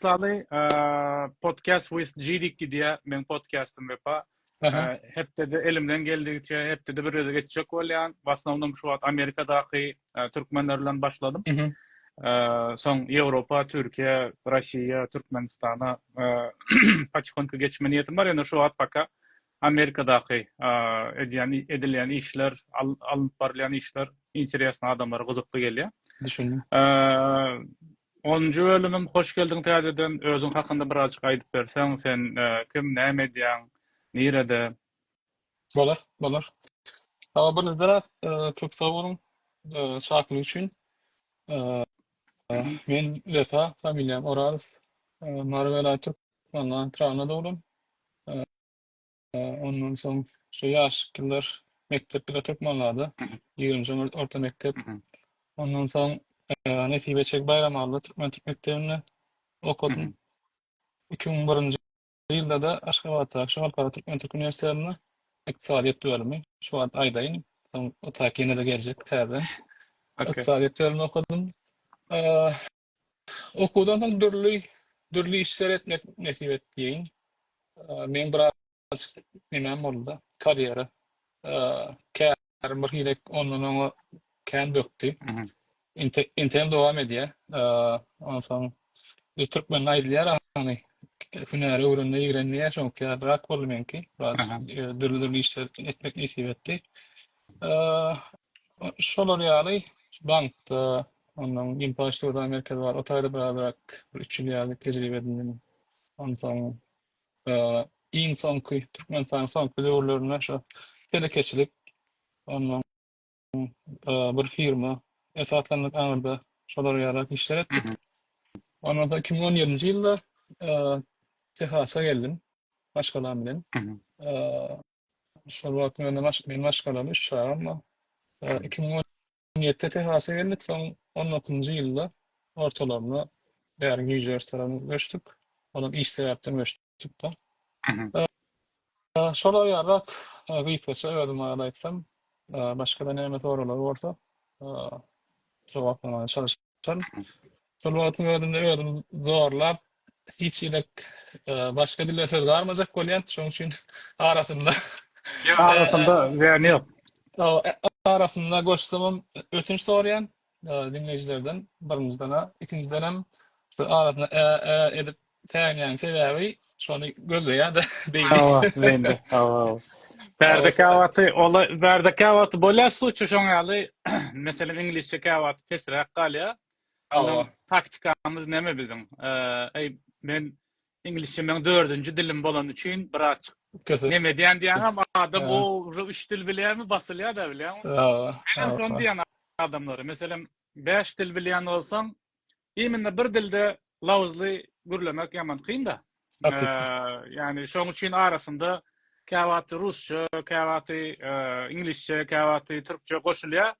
Myslaly, podcast with Jidik gidýär, meň podcastym wepa. Hepdede elimden geldigiçe, hepdede bir öde geçjek bolýan. W asnownym şu wagt Amerikadaky türkmenler bilen başladym. Soň Ýewropa, Türkiýe, Russiýa, Türkmenistana paçkonka geçme niýetim bar, ýöne şu wagt paka Amerikadaky edýän edilýän işler, alnyp barylýan işler interesli adamlara gyzykly gelýär. Düşündim. Onunjy bölümim hoş geldiň täzeden özüň hakynda birazjyk aýdyp berseň sen kim näme edýäň nirede. Bolar bolar. Sawa birinjiden az köp sag boluň çakylyk üçin. Men Wepa familiýam Orazow. Mary welaýat Türkmengan tragyna dogdum. Ondan soň şu ýaşlylar mekdep bilet okmagada, ýigrenjeň orta mekdep. Ondan soň Nesibe Çek Baýramalla türkmen Türk mekdebinde okadym. Iki müň birinji ýylda-da Aşgabatdaky şu Halkara Türkmen Türk Uniwersitetinde ykdysadyýet bölümi, şu wagt aýdaýyn, soň o taýk ýene-de geljek täzeden, ykdysadyýet bölümini okadym. Okuwdan soň dürli dürli işler etmek nesip etdiýin. Men biraz nemem boldy, karýera. Kärim bir hili ondan oňa kän bökdi. Inte intem dowam edýär. Ondan soň biz türkmende aýdylýar ahany, hünäri öwrenme ýigrenme diýýär, şoňa käbir rak boldy meňki. Biraz dürli dürli işler etmek nesip etdi. Eee, şolar ýaly bankda, ondan infrastruktura merkezi bar. O taýda birazrak bir üç ýyl ýaly tejribe edindim. Onsoň, eee, iň soňky Türkmenistanyň soňky döwürlerinde şu telekeçilik, ondan, eee, bir firma esaslandyk aňyrda şolar ýaly işler etdik. Ondan soň iki müň on ýedinji ýylda, eee, Tehasa geldim maşgalam bilen. Eee, Şol wagt mende maş meň maşgalam, üç çagam bar. Eee, Hmm. iki müň on ýedide Tehasa geldik, soň on dokuzynjy ýylda ortalarynda bäri Nýu-Jersey tarapyna göçdük. Olam iş sebäpden göçdük-de. Mhm. Eee, şolar ýaly-ak, eee, gysgaça özüm barada aýtsam. Eee, başga-da näme soraglar bolsa, eee, jogaplamaga çalyşaryn. Şol şol wagtyň özünde özüm zorlap hiç hili başga dilde söz garmajak bolýan. Şonuň üçin arasynda Ýa arasynda zähni ýok. Arasynda goşsamam ötünç soraýan diňleýjilerden birinjiden-ä, ikinjiden hem arasynda ä-ä edip Säginýäň sebäbi şony gözleýädä beýni. Hawa beýnide hawa hawa. Bärde käwagty ola bärde käwagty bolýar suçu şoň ýaly meselem iňlisçe käwagty pesräk galýar. Ondan taktikamyz näme biziň eý men iňlisçe meň dördünji dilim bolany üçin birazçyk näme edýän diýýäňem adam o ujre üç dil bilýärmi basylýada bilýäňmi. Hawa hawa. Menem şony diýýän adamlara meselem bäş dil bilýän bolsaň Himinde bir dilde lawyzly gürlemek ýaman kyn-da. Ýagny şoň üçin arasynda käwagty rusça, käwagty iňlisçe, käwagty türkçe goşulýar.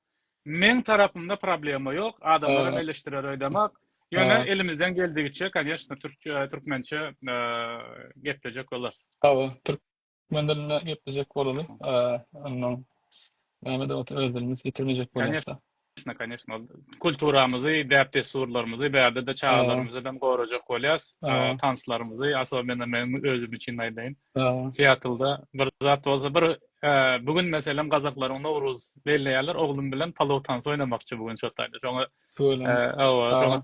Meň tarapymda problema ýok, adamlar hem eleşdirer öýdemok. Ýöne elimizden geldigiçe, kanyeshna, türkçe, türkmençe geplejek bolarys. Hawa, Menden indi geplejek bolaly. Ondan näme-de bolsa öz dilimiz ýitirmejek bolýas. Kanyşna, kanyşna. Ol kulturamyzy, däp-dessurlarymyzy, bärde-de çagalarymyzy bilen gorajak bolýas. Tanslarymyzy, asobенно men özüm üçin aýdaýyn. Siatlda bir zat bolsa, bir bu gün meselem gazaklaryň Nowruz belleýärler. Oglum bilen palow tansy oýnamakçy bu gün şo taýda. Şoňa hawa, şoňa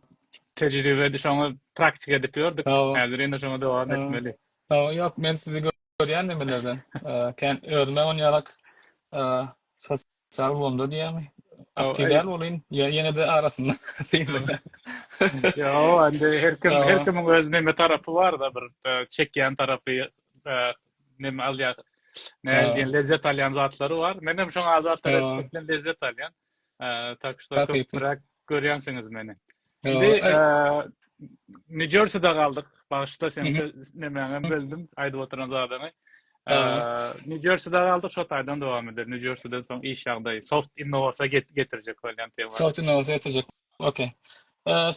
tejribe edip, şoňa praktika edip ýördük. Häzir ýene şoňa dowam etmeli. Hawa, ýok, men sizi görýän nimelerden. Kän özüm-ä onýarak sosial ulgamda diýýärmi, Hawa, aktiw däl welin, ýene-de arasynda synlanýan. Ýok, indi her kim, her kimiň öz neme tarapy bar-da, bir çekýän tarapy, neme alýan, nädip diýen, lezzet alýan zatlary bar. Menem şoňa adatdan ýetişmekden lezzet alýan. Tak şto köpräk görýänsiňiz meni. Indi New Jerseyda galdyk. Bagşyda sen nemäňe böldüm aýdyp oturan zadyňy. New Jerseyda galdyk, şo taýdan dowam eder. New Jerseyden soň iş ýagdaýy soft innowasyýa getirjek bolýan tema. Soft innowasyýa getirjek. Okey.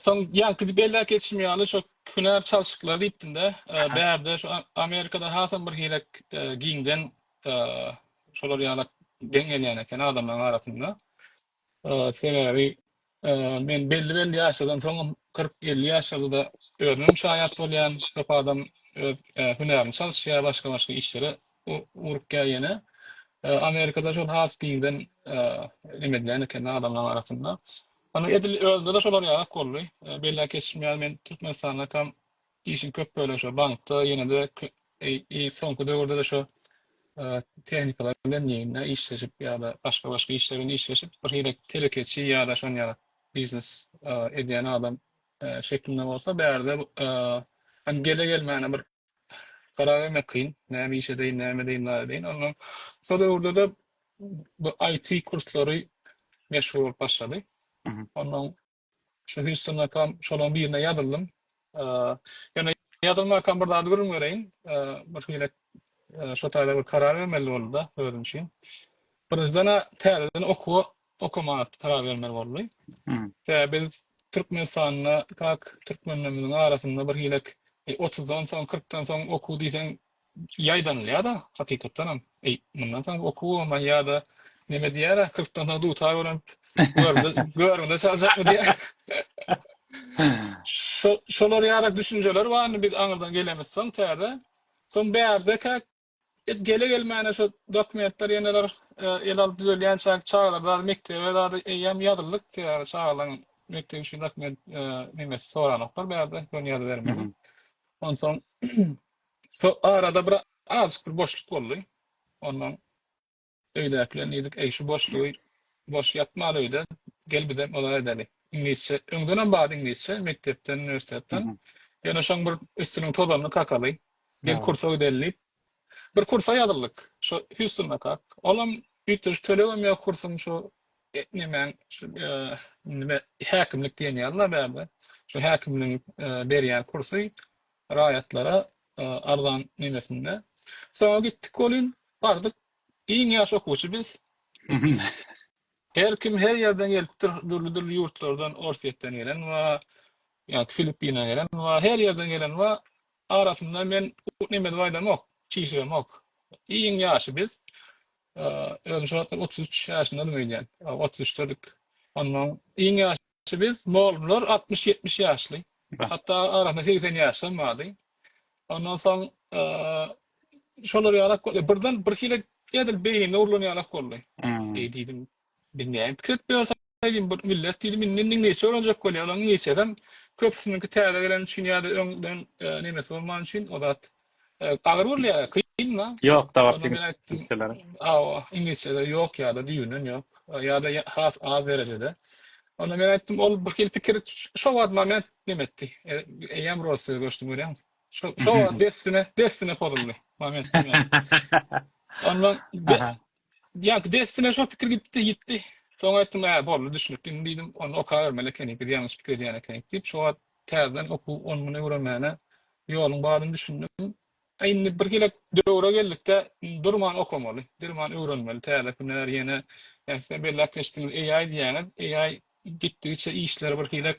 Soň ýaňky belli geçim ýaly şo hünär çalşyklary diýipdim-de. Bärde şu Amerikada hasam bir hile giňden şolar ýaly geň gelýän eken adamlaryň arasynda. Sebäbi men belli-belli ýaşlardan soňam kyrk-elli ýaşlarda özümem şaýat bolýan, köp adam öz hünärini çalyşýar, başga-başga işlere ugrukýar ýene. Amerikada şol has giňden neme edilýän eken adamlaryň arasynda. Ony edil özümde-de şolar ýaly boldy. Belläp geçmeýär, men Türkmenistandaky Işiň köp bölegi şo bankda, ýene-de soňky döwürde-de şo tehnikalar bilen ýene-de işleşip ýa-da başga-başga işler bilen işleşip, birhili telekeçi ýa-da şonuň ýaly biznes edýän adam şeklinde bolsa, bärde hem gele-gelmäne bir karar bermek kyn, näme iş edeýin, näme edeýin, näme edeýin. Onsoň şo döwürde-de bu IT kurslary meşhur bolup başlady. Onsoň Şu hüsnakam şolan birine ýazyldym. Ýöne ýazylmakam bir zady gürrüň bereýin. Bir hili şo taýda bir karar bermeli boldy-da özüm üçin. Birinjiden-ä täzeden okuwa okamaga karar bermeli boldy. Sebäbi biz Türkmenistanda kak türkmenlerimiziň arasynda bir hili otuzdan soň, kyrkdan soň okuw diýseň ýaýdanylýar-da, hakykatdanam. Eý, mundan soň okuw bolman ýa-da neme diýer-ä, kyrkdan soň dutar bolan görgüde görgüde çaljakmy diýýär. Şo, şolar ýaly düşünjeler bar, indi biz aňyrdan gelemiz soň täze. Soň bärde-kä et gele-gelmäne şo dokumentler ýeneler el alyp düzelýänçäk çagalar zady mekdebe zady eýýäm ýazyldyk, sebäbi çagalaň mekdep üçin dokument, nemesi soranoklar bärde, ýöne ýazybermeli. Onsoň. So arada bir azjyk bir boşluk boldy. Ondan öýdäki bilen diýdik, eý, şu boşlugy boş ýatmaly öýde, gel bizem ozal edeli. Iňlisçe, öňdenem bardy iňlisçe, mekdepden, Hı uniwersitetden. hı. Ýöne şoň bir üstüniň tozanyny kakaly, gel Ýa. kursa gideli diýip, bir kursa ýazyldyk. Şo Hýustondakak. Olam üýtgeşik tölegem ýok kursuň şo e, nemäň şu e, nime häkimlik diýen ýaly-la bärde. Şu häkimligiň e, berýän kursy. raýatlara arzan nemesinde. Soňra gitdik welin, bardyk, iň ýaş okuwçy biz. Her kim her ýerden gelipdir, dürli-dürli ýurtlardan, Orsýetden gelen bar, ýa-da Filippine gelen bar, her ýerden gelen bar. Arasynda men neme edip aýdamok, çişiremok. Iň ýaşy biz. Özüm şo wagtlar otuz üç ýaşyndadym öýdýän. Otuz üçdedik. Onnoň iň ýaşy. Şu biz molumlar altmyş-ýetmiş ýaşly. Hatda arasynda segsen ýaşlam bardy. Ondan soň şolar ýalak boldy. Birden bir hili edil beýnimde urlan ýalak boldy. Eý diýdim, biz näme pikir edip ýörsek diýdim, bir millet diýdim, indi indi neçe ölenjek bolýar, olaryň neçesem köpüsiniňki täze geleni üçin ýa-da öňden nemesi bolmany üçin o zat Agyr bolýar, kynma. Ýok, dagy Ondan ben aýtdym, ingilisçeleri. aw, iňlisçede ýok ýa-da düýbünden ýok, ýa-da ýa has az derejede. Onda men aýtdym, ol bir hili pikir ş şo wagt moment neme etdi, e eýýäm Russiýa göçdüm, görýäňmi? Şo şo wagt dessine dessine pozuldy, momentum ýaly. Ondan be Aha. Ýa dessine şo pikir gitdi, ýitdi. Soň aýtdym, Hä, boldy, düşünipli, indi diýdim, ony okabermeli ekeni, biz ýalňyş pikir edýän ekenik diýip, şo wagt täzeden okuw onguna öwrenmäne ýoluň bardyny düşündim. A indi bir gezek döwre geldik-de, indi durman okamaly, durman öwrenmeli, täze hünär, ýene, ýa siz hem belläp geçdiňiz, AI diýýäňiz, AI gitdigiçe işleri birhili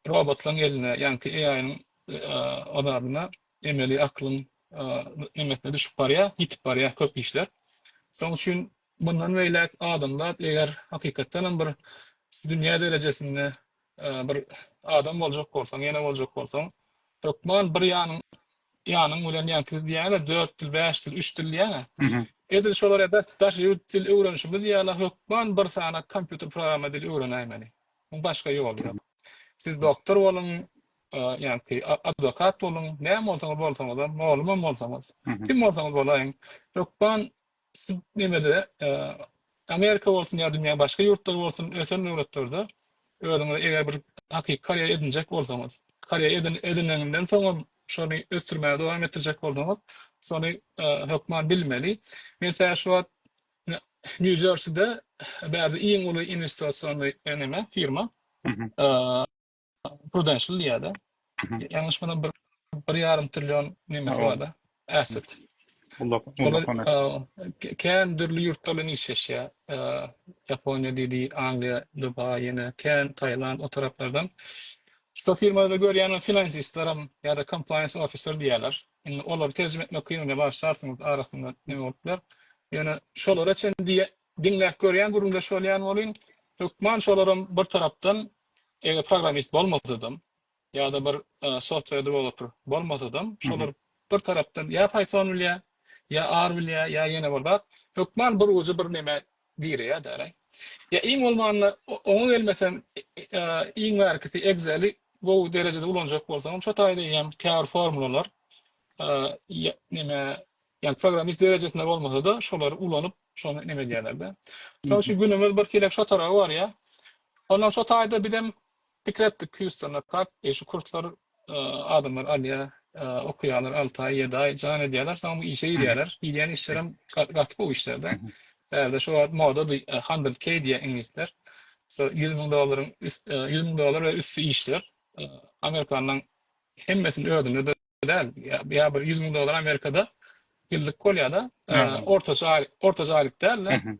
robotlaryň eline, ýaňky AI-nyň azabyna emeli aklyň nemesine düşüp barýar, ýitip barýar köp işler. Şonuň üçin mundan beýläk adamzat eger hakykatdan hem bir şu dünýä derejesinde bir adam boljak bolsaň, ene boljak bolsaň, hökman bir ýanyň ýanyň bilen ýa siz diýýäňiz-ä dört dil, bäş dil, üç dil diýýäň-ä. Edil şolar ýa-da daş ýurt dil öwrenişimiz ýaly hökman bir sany kompýuter programma dili öwrenäýmeli. Muň başga ýoly ýok. Siz doktor boluň, ýagny adwokat boluň, näme bolsaňyz bolsaňyzam, mugallymam bolsaňyz, kim bolsaňyz bolaýyň, hökman siz nemede, Amerika bolsun ýa dünýäň başga ýurtlary bolsun, ösen döwletlerde özüňize eger bir hakyky karýera edinjek bolsaňyz, karýera edin, edineniňden soňam şony ösdürmäge dowam etdirjek bolsaňyz, şony hökman bilmeli. Men tä şu wagt Nýu-Jerside bärde iň uly inwestisionny neme, firma. Prudential diýýärdi. Ýalňyş bolsam bir bir ýarym trillion nemesi barda. Asset. Kän dürli ýurtlar bilen işleşýär. Ýaponiýa diýdi, Angliýa, Dubaý, ýene kän Taýland o taraplardan. Şu firmada görýän finansistler hem ýa-da compliance officer diýýärler. Indi olary terjime etmek kyn, bar şartyň arasynda näme bolup biler. Ýöne şolara çenli diýýär, Diňläp görýän gürrüňdeş bolýan bolyn. Hökman şolaram bir tarapdan eger programmist bolmasadam ýa-da bir software developer bolmasadam şolar bir tarapdan ýa python bilýä ýa R bilýä ýa ýene bir zat hökman bir uja bir neme gireýä däl-ä. Ýa iň bolmanda oňa gelmesem iň bärkisi Excel-i gowy derejede ulanjak bolsaňam şo taýda eýýäm käbir formulalar neme Ýagny programmist derejesinde bolmasa-da şolary ulanyp şony neme edýärler-de. Mysal üçin günümiz bir hili şo taraba barýar. Ondan şo taýda bizem pikir etdik Hýustona kak eý şu kurslar adamlar alýar, okaýarlar alty aý, ýedi aý jan edýärler soň bu işe girýärler. Girýän işlerem gaty gowy işler-de. Bärde şo wagt modady hundred k diýýär iňlisler. Şo ýüz müň dollaryň üst ýüz müň dollar we üsti işler. Amerikanyň hemmesini özünde däl. Ýa bir ýüz müň dollar Amerikada ýyllyk bolýar-da. Ortaça aýlyk, ortaça aýlyk däl-de.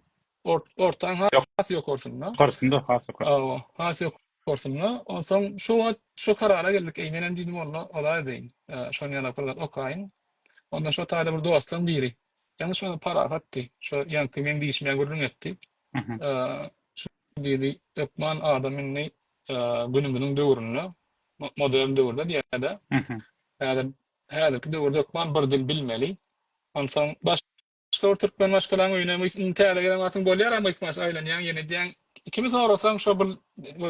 Ortaň has ýokarsynda. Ýokarsynda, has ýokary. Hawa, has ýokarsynda. Onsoň şu wagt şu karara geldik. Eý, menem diýdim, walla, olaý beýin. Şony ýaly bir zat okaýyn. Onda şu taýda bir dostlaryň biri, ýalňyşmasaň Parahatdy, şo ýaňky meň diýşime gürrüň etdi. Şuny diýdi, Hökman adam indi günümiziň döwründe modern döwürde diýýärdi. Häzir häzirki döwürde hökman bir dil bilmeli. Onsoň başga bir türkmen maşgalaň öýüne indi täze gelen wagtyň bolýar a myhmaş aýlanýaň ýene diýýäň kimi sorasaň şo bir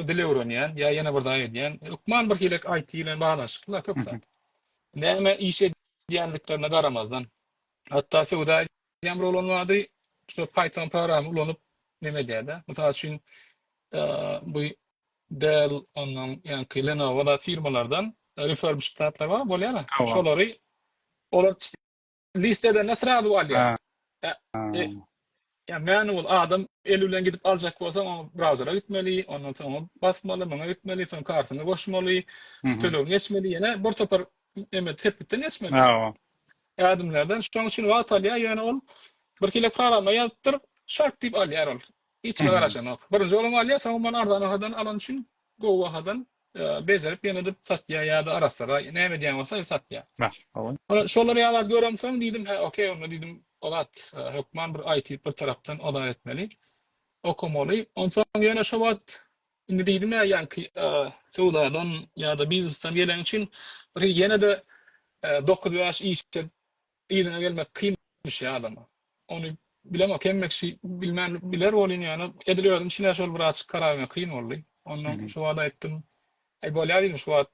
dil öwrenýän ýa ýene bir zat edýän hökman bir hile IT bilen baglanyşykly köp zat. Näme iş edýändiklerine garamazdan hatda söwda Ýamyr bolan bady şu Python programy ulanyp neme edýärdi. Mysal üçin bu Dell ondan ýaňky Lenovo da firmalardan refurbished zatlar bar bolýar. Şolary olar list edende srazu alýar. Yani manual adam eli bilen gidip alacak bolsaň, o browsera gitmeli, ondan soň basmaly, muňa gitmeli, soň kartyny goşmaly, hmm. tölegini geçmeli, ýene bir topar Eme sepgitden geçmeli. Hawa. Ädimlerden şoň üçin wagt alýar, ýöne ol bir kile programma ýazypdyr, şak diýip alýar ol. Hiç kime garaşanok. Birinji olam alýar, soň ondan arzan bahadan alany üçin gowy bahadan bejerip ýene-de satýar ýa-da arassara näme edýän bolsa satýar. Ol şolary ýalat göremsoň diýdim, hä okey onda diýdim, o zat hökman bir IT bir tarapdan ozar etmeli, okamaly. Onsoň ýöne şo wagt Indi diýdim-ä, ýaňky söwdadan ýa-da biznesden geleň üçin bir ýene-de dokuz bäş işe yzyňa gelmek kynmyş adama. Ony bilemok, hemme kişi bilmän biler welin, ýöne edil özüm üçin-ä şol birazajyk karar bermek kyn boldy. Ondan şu wagt aýtdym, Aý, bolýar diýdim, şu wagt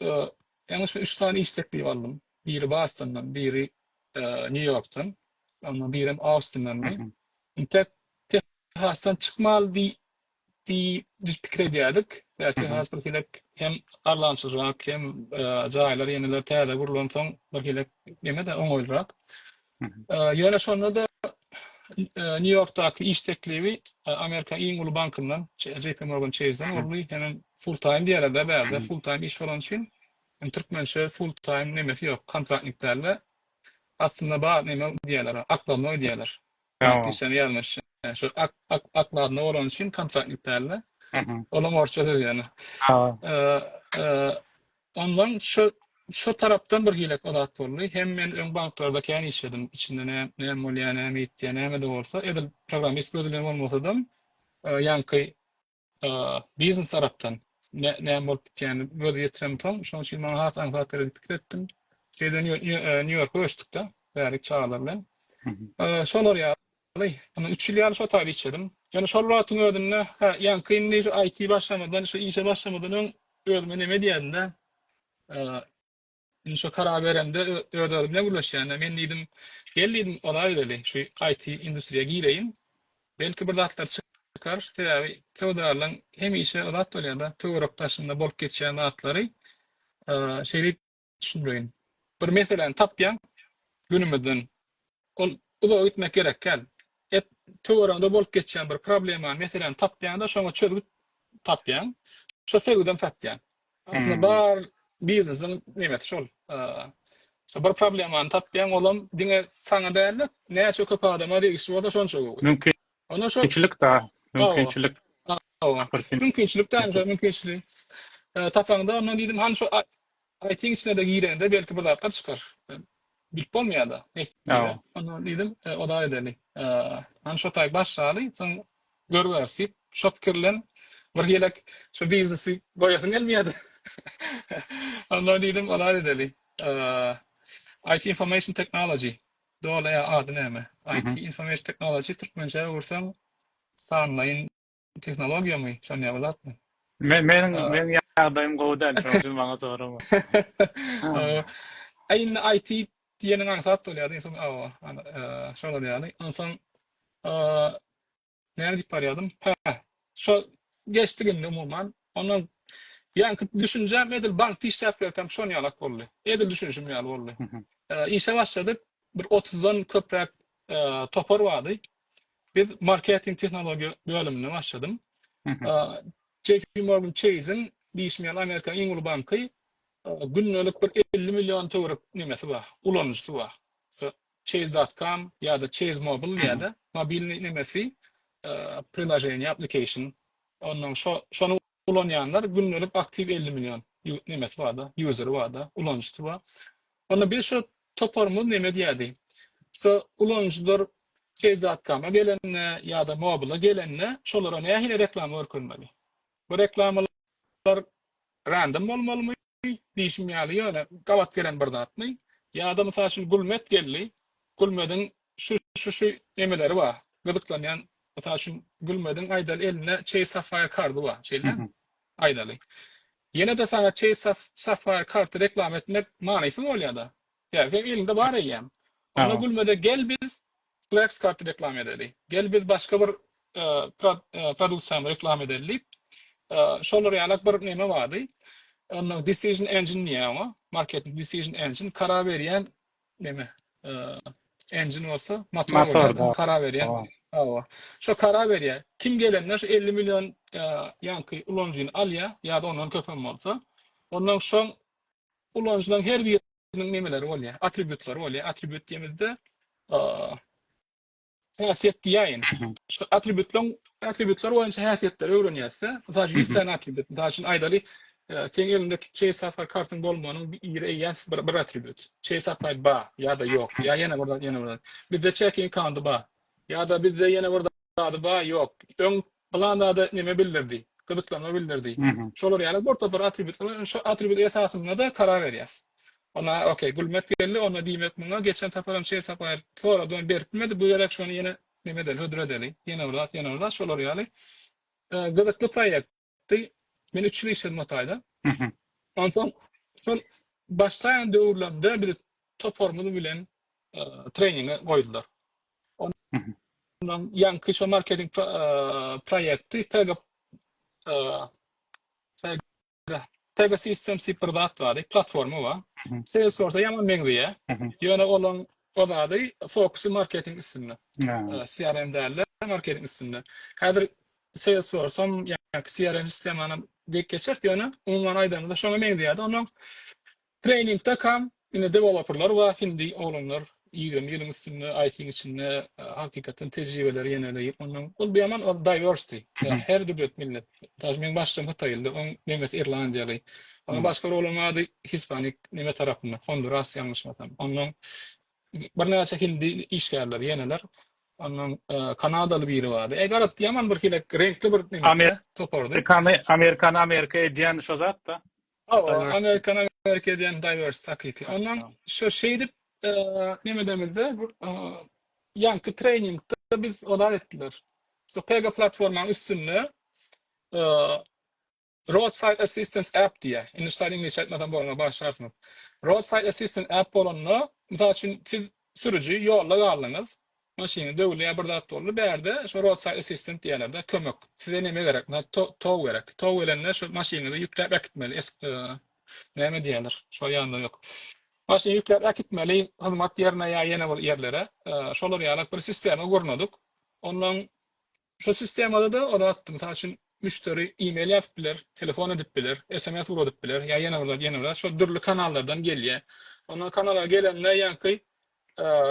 Ee, ýalňyşma üç sany iş teklibi aldym. Biri Bostondan, biri ee, Nýu-Ýorkdan, emma birem Austindandy. Mhm. Intek Tehasdan çykmaly diý diýip biz pikir edýärdik. Ýa Mhm. Tehas bir hilek hem arlançyrak, hem ee, jaýlar ýeneler täze gurlansoň bir hilek neme-de oňaýlyrak. Ýöne şonda-da Nýu-Ýorkdaky iş teklibi Amerikanyň iň uly bankyndan, JP Morgan Chase-den boldy. Hemem full-time diýýärler-dä bärde, full-time iş bolany üçin. Indi türkmençe full-time nemesi ýok, kontraktnik däl-de. Aslynda bar neme diýýärler, okladnoý diýýärler. Işden ýalňyş. Şu okladnoý bolany üçin kontraktnik däl-de. Olam orsça söz ýöne. Ondan şo şo tarapdan bir hile zat boldy. Hem men öň banklarda kän işledim. Içinde nä näme bolýar, näme ýitýär, näme-de bolsa, edil programmist gözi bilen bolmasadam, ýaňky biznes tarapdan nä näme bolup gitýänini göz ýetiremsoň, şonuň üçin maňa has aňsat geler diýip pikir etdim. Şeýdibem Nýu-Ýorka göçdük-de bärik çagalar bilen. Şolar ýaly. Alaý, ýöne üç ýyl ýaly şo taýda işledim. Ýöne şol wagtyň özünde, hä, ýaňky indi şu IT başlamadan, şu işe başlamadan öň özüme neme diýerdim-dä, indi şo karar beremde öz-özüm bilen gürleşýärdim. Men diýdim, gel diýdim, ozal edeli, şu IT industriýa gireýin. Belki bir zatlar çykar. Sebäbi söwdagärleň hemişe o zat bolýar-da, töwerek-daşynda bolup geçýän zatlary şeýdip, Düşünmeýin. Bir meseläni tapýaň günümizden. Ol uzaga gitmek gerek däl. Hep töweregiňde bolup geçýän bir problemany, meseläni tapýaň-da, şoňa çözgüt tapýaň. Şo çözgüdem satýaň. Aslynda bar biznesiň nebeti şol. Şo bir problemany tapýaň, olam diňe saňa däl-de, näçe köp adama degişli bolsa şonça gowy. Mümkinçilik da, mümkinçilik. Hawa, mümkinçilik daýymçaň mümkinçiligi tapaňda, ondan diýdim, hany şo Saýtyň içine-de girende belki bir zatlar çykar. Bilip bolmaýar-da. Ýa. Ondan diýdim, oda edeli. Hany şo taý başlaly, soň görüberis diýip, şo pikir bilen bir gelek şu biznesi goýasym gelmeýärdi. Ondan diýdim, oda edeli. IT Information Technology. Doly ady näme? IT Information Technology, türkmençä öwürseň, sanlaýyn. Tehnologiýamy? Şonýa bilatmy? Men meniň meniň ýagdaýym gowy däl şoň üçin maňa sorama. Aý indi IT diýeniň aňsat bolýar diýseň awa şolar ýaly. Onsoň näme diýip barýardym? Hä şo geçdik indi umuman. Ondan ýaňky düşünjäm edil bankda işläp ýörkäm şon ýalak boldy. Edil düşünişim ýaly boldy. Işe başladyk. bir otuzdan köpräk topar bardy. Biz marketing tehnologiýa bölüminde başladym. JP Morgan Chase-iň diýişmeýän Amerikanyň iň uly banky gündelik bir elli million töwerek nemesi bar, ulanyjysy bar. Chase.com ýa-da Chase Mobile diýýärdi, mobilniý nemesi, prilaženiýa, application. Ondan şo, şonuň ulanýanlar gündelik aktiw elli million nemesi barda ýuzeri barda ulanyjysy bar onda biz şo toparymyz neme diýädi şo ulanyjylar çeýz dot koma gelende ýada mobile gelende şolara nähili reklama görkezmeli bu reklamalar random bolmalymy diýşim ýaly, ýöne gabat gelen bir zatmy? Ýa-da, mysal üçin, Gülmet geldi, Gülmediň şu-şu-şu nemeleri bar, gyzyklanýan, mysal üçin, Gülmediň, aýdaly, elinde Chase Sapphire kardy bar, şeýdämi? Aýdaly. Ýene-de saňa Chase Sapphire kardy reklama etmek manysyz bolýar-da. Ýa, seň eliňde bar eýýäm. Onda Gülmede gel biz Flex karty reklama edeli. Gel biz başga bir produksiýany reklama edeli diýip, şolar ýalak bir neme bardy. Onda decision engine diýýär oňa. Marketing decision engine karar berýän neme. Engine bolsa motor bolýar. Karar berýän. Hawa. Şo karar berýär. Kim gelende şu 50 million ýaňky ulanyjyny alýar ýa-da ondan köpem bolsa. Ondan soň ulanyjylaryň her biri Onuň nemeleri bolýar? Atributlary bolýar. Atribut diýemizde häsiýet diýäýin. Şu atributlaryň atributlar boýunça häsiýetleri öwrenýäs-de. Mysal üçin 100 sany atribut. Mysal üçin aýdaly, seň elinde Chase Sapphire kartyň bolmagynyň ýeri eýýäm bir, bir atribut. Chase Sapphire ba ýa-da ýok. Ýa ýene birden, ýene birden. Bizde checking accounty ba. Ýa-da bizde ýene bir zady ba, ýok. Öň Pylan zada näme bildirdi? Gyzyklanma bildirdi. Şolar ýaly bir topar atributlar bar. Şo atribut esasynda-da karar berýäs. Onda okey, gülmek geldi. Onda diýmek muňa geçen saparam şeýle sapar soradym, berip bilmedi. Bu gezek şony ýene näme edeli, hödür edeli. Ýene bir zat, ýene bir zat. Şolar ýaly gyzykly proýektdi. Men üç ýyl işledim o taýda. Onsoň şol başlaýan döwürlerimde bizi toparymyz bilen treninge goýdular. Ondan ýaňky şo marketing proýekti Pega Pega Systems diýip bir zat bar, platforma bar. Salesforce-a ýaman meňzeýär. Ýöne olaň o zady fokusy marketing üstünde. CRM däl-de, marketing üstünde. Häzir Salesforce-am, ýaňky CRM sistemanam diýip geçeris, ýöne umuman aýdanyňda şoňa meňzeýär-de. Ondan Trainingde kam ine developerlar bar hindi oglanlar ýigrimi ýylyň üstünde IT-iň içinde hakykatdan tejribeleri ýeneleyip ondan ol biaman ol diversity ýa her dürlet millet daž meň başym hytaýyldy oň nemes irlandiýaly oňa başga bir oglan bardy hispanik neme tarapyndan honduras ýalňyşmasam ondan birnäçe hindi işgärler ýeneler ondan kanadaly biri bardy e garaz ýaman bir hile reňkli bir neme topardy amerikany amerika edýäni şo zatda. Hawa, Amerikan Amerika edýän diverse takyky. Ondan şu şeýdip nemedemizde ýaňky treningde biz olar etdiler. Şu Pega platformaň üstünde Roadside Assistance App diýýär. Indi şu taýdan ingilisçe aýtmasam bolmaz, bagyşlarsyňyz. Roadside Assistance App bolanda, mysal üçin siz sürüji ýolda galdyňyz, Maşyny döwülýär bir zat boldy bärde şo roadside assistant diýýärlerde kömek size neme gerek na tow gerek tow gelende şo maşynyňyzy ýükläp äkitmeli näme diýýärler şo ýanda ýok maşyny ýükläp äkitmeli hyzmat ýerine ýa ýene bir ýerlere şolar ýalak bir sistema gurnadyk ondan Şol sistemada-da o zat, mysal üçin, müşderi e-mail ýazyp biler, telefon edip biler, sms ugradyp biler, ýa ýene bir zat, ýene bir zat, şol dürli kanallardan gelýär. Onda kanallar gelende ýaňky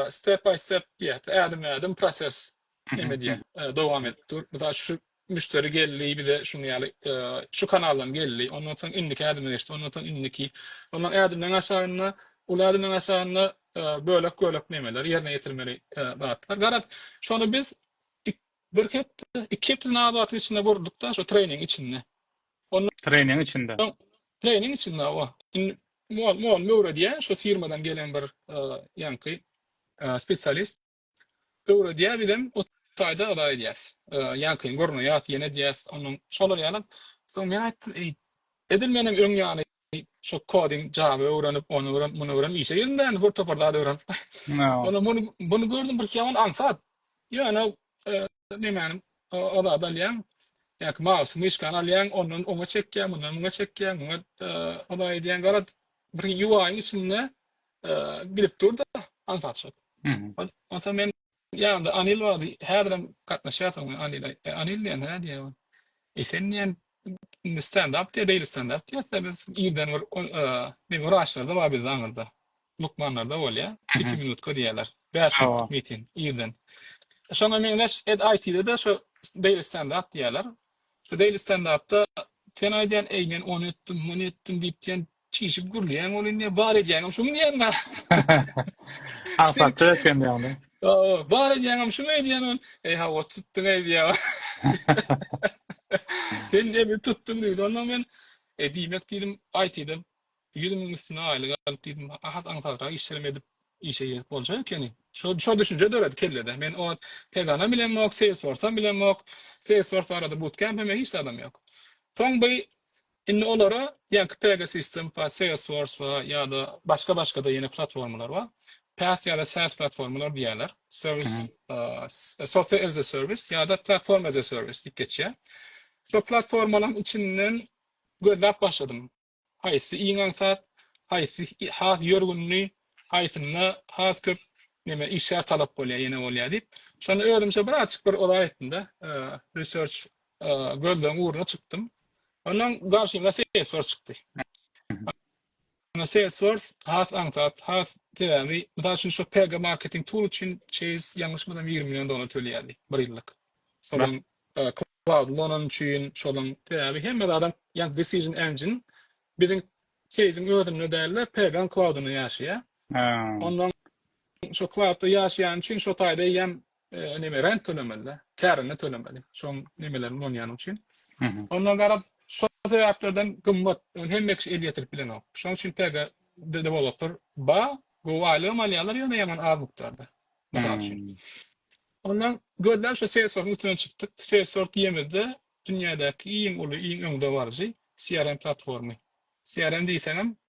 step by step diýýär, ädimme-ädim proses neme edýär, dowam edip dur. Mysal üçin, şu müşderi geldi, bize şuny ýaly şu kanaldan geldi, ondan soň indiki ädime geçdi, ondan soň indiki, ondan ädimden aşagynda, uly ädimden aşagynda bölek-bölek nemeler, ýerine ýetirmeli zatlar. Garaz, şony biz Ik bir hepde, iki hepdeden az wagtyň içinde gurduda şo treýningiň içinde. Ondan Treýningiň içinde. soň treýningiň içinde hawa. Indi mugallym mugallym öwredýär, şo firmadan gelen bir ýaňky spesialist öwredýär, bizem ot taýda yza edýäs. Ýaňkyny görmeýäs, ýene edýäs, ondan şolar ýalam. Soň men aýtdym, eý, edil menem öň ýaly Şu koding java öwrenip, ony öwrenip, muny öwrenip işe girdim däni bir topar zat öwrenip. Onda muny muny gördüm bir ýaman aňsat. Ýöne nemäni o zat alýaň. Ýa-ki mouse myşkany alýaň, ondan oňa çekýäň, mundan muňa çekýäň, muňa o zat edýäň. Gara bir UI-iň içinde bilip dur-da aňsat şol. Onsa men Ýa-da Anil bardy, häzirem gatnaşýarsyňmy Anil? E, Anil diýen hä diýýär ol. E, sen diýýän indi stendap diýýär, daily stendap diýýäs-dä biz. Irden bir ne wraçlarda bar bizde aňyrda. Lukmanlarda bolýar. Piti minutka diýýärler. Bäş minutlyk miting irden. Şoňa meňzeş ed IT-de-de şu daily stendap diýýärler. Şu daily stendapda sen aýdýan, eý men ony etdim, muny etdim diýip diýen Çişip gürleýäň ol indi bar edýäňem şumy diýýän. Aňsatja eken diýýäňmi? Hawa, bar edýäňem şumy edýän ol. Eý hawa tutduň eý diýýär. Sen diýip tutduň diýdi. Ondan men e diýmek diýdim aýtydan ýüz müň üstüne aýlyk alyp diýdim. Has aňsatrak işlerimi edip işe girip bolja ekeni. Şo şo düşünje döredi kellede. Men o wagt Pegana bilemok, Salesforce-a bilemok. Salesforce barada bootcamp hem hiç zadam ýok. Soň bu Indi olara ýaňky Pegasysystem bar, Salesforce bar ýa-da başga-başga-da ýene platformalar bar. PaaS ýa-da SaaS platformalar diýýärler. Serwis, Mhm. eee, Software as a Service ýa-da Platform as a Service diýip geçýär. Şol platformalaryň içinden gözläp başladym. Haýsy iň aňsat, haýsy has ýörgünli, haýsynda has köp neme, işgär talap bolýar, ýene bolýar diýip. Şonda özümçe birazajyk bir ol aýtdym-da, eee, research gözleň ugruna çykdym. Ondan garşymda Salesforce çykdy. Onda Salesforce has aňsat, has sebäbi, mysal üçin şu PG marketing tool üçin Chase ýalňyşmasam ýigrimi million dollar tölýärdi bir ýyllyk. Soňam cloud Lonan üçin şolaň sebäbi hemme zadam ýa decision engine biziň Chase-iň özünde däl-de PG-iň cloud-ynda ýaşaýar. Ondan şu cloud-da ýaşaýany üçin şo taýda eýýäm neme rent tölemeli-de, kärini tölemeli. Şoň nemelerini ulanýanyň üçin. Ondan garaz, şol sebäplerden gymmat, ony hemme kişi el ýetirip bilenok. Şoň üçin TG dewolopper ba, gowy aýlygam alýarlar, ýöne ýaman az mukdarda. Mysal üçin. Ondan gözläp şu Salesforce-yň üstünden çykdyk. Salesforce diýemizde dünýädäki iň uly, iň öňdebaryjy CRM platformy. CRM diýseňem,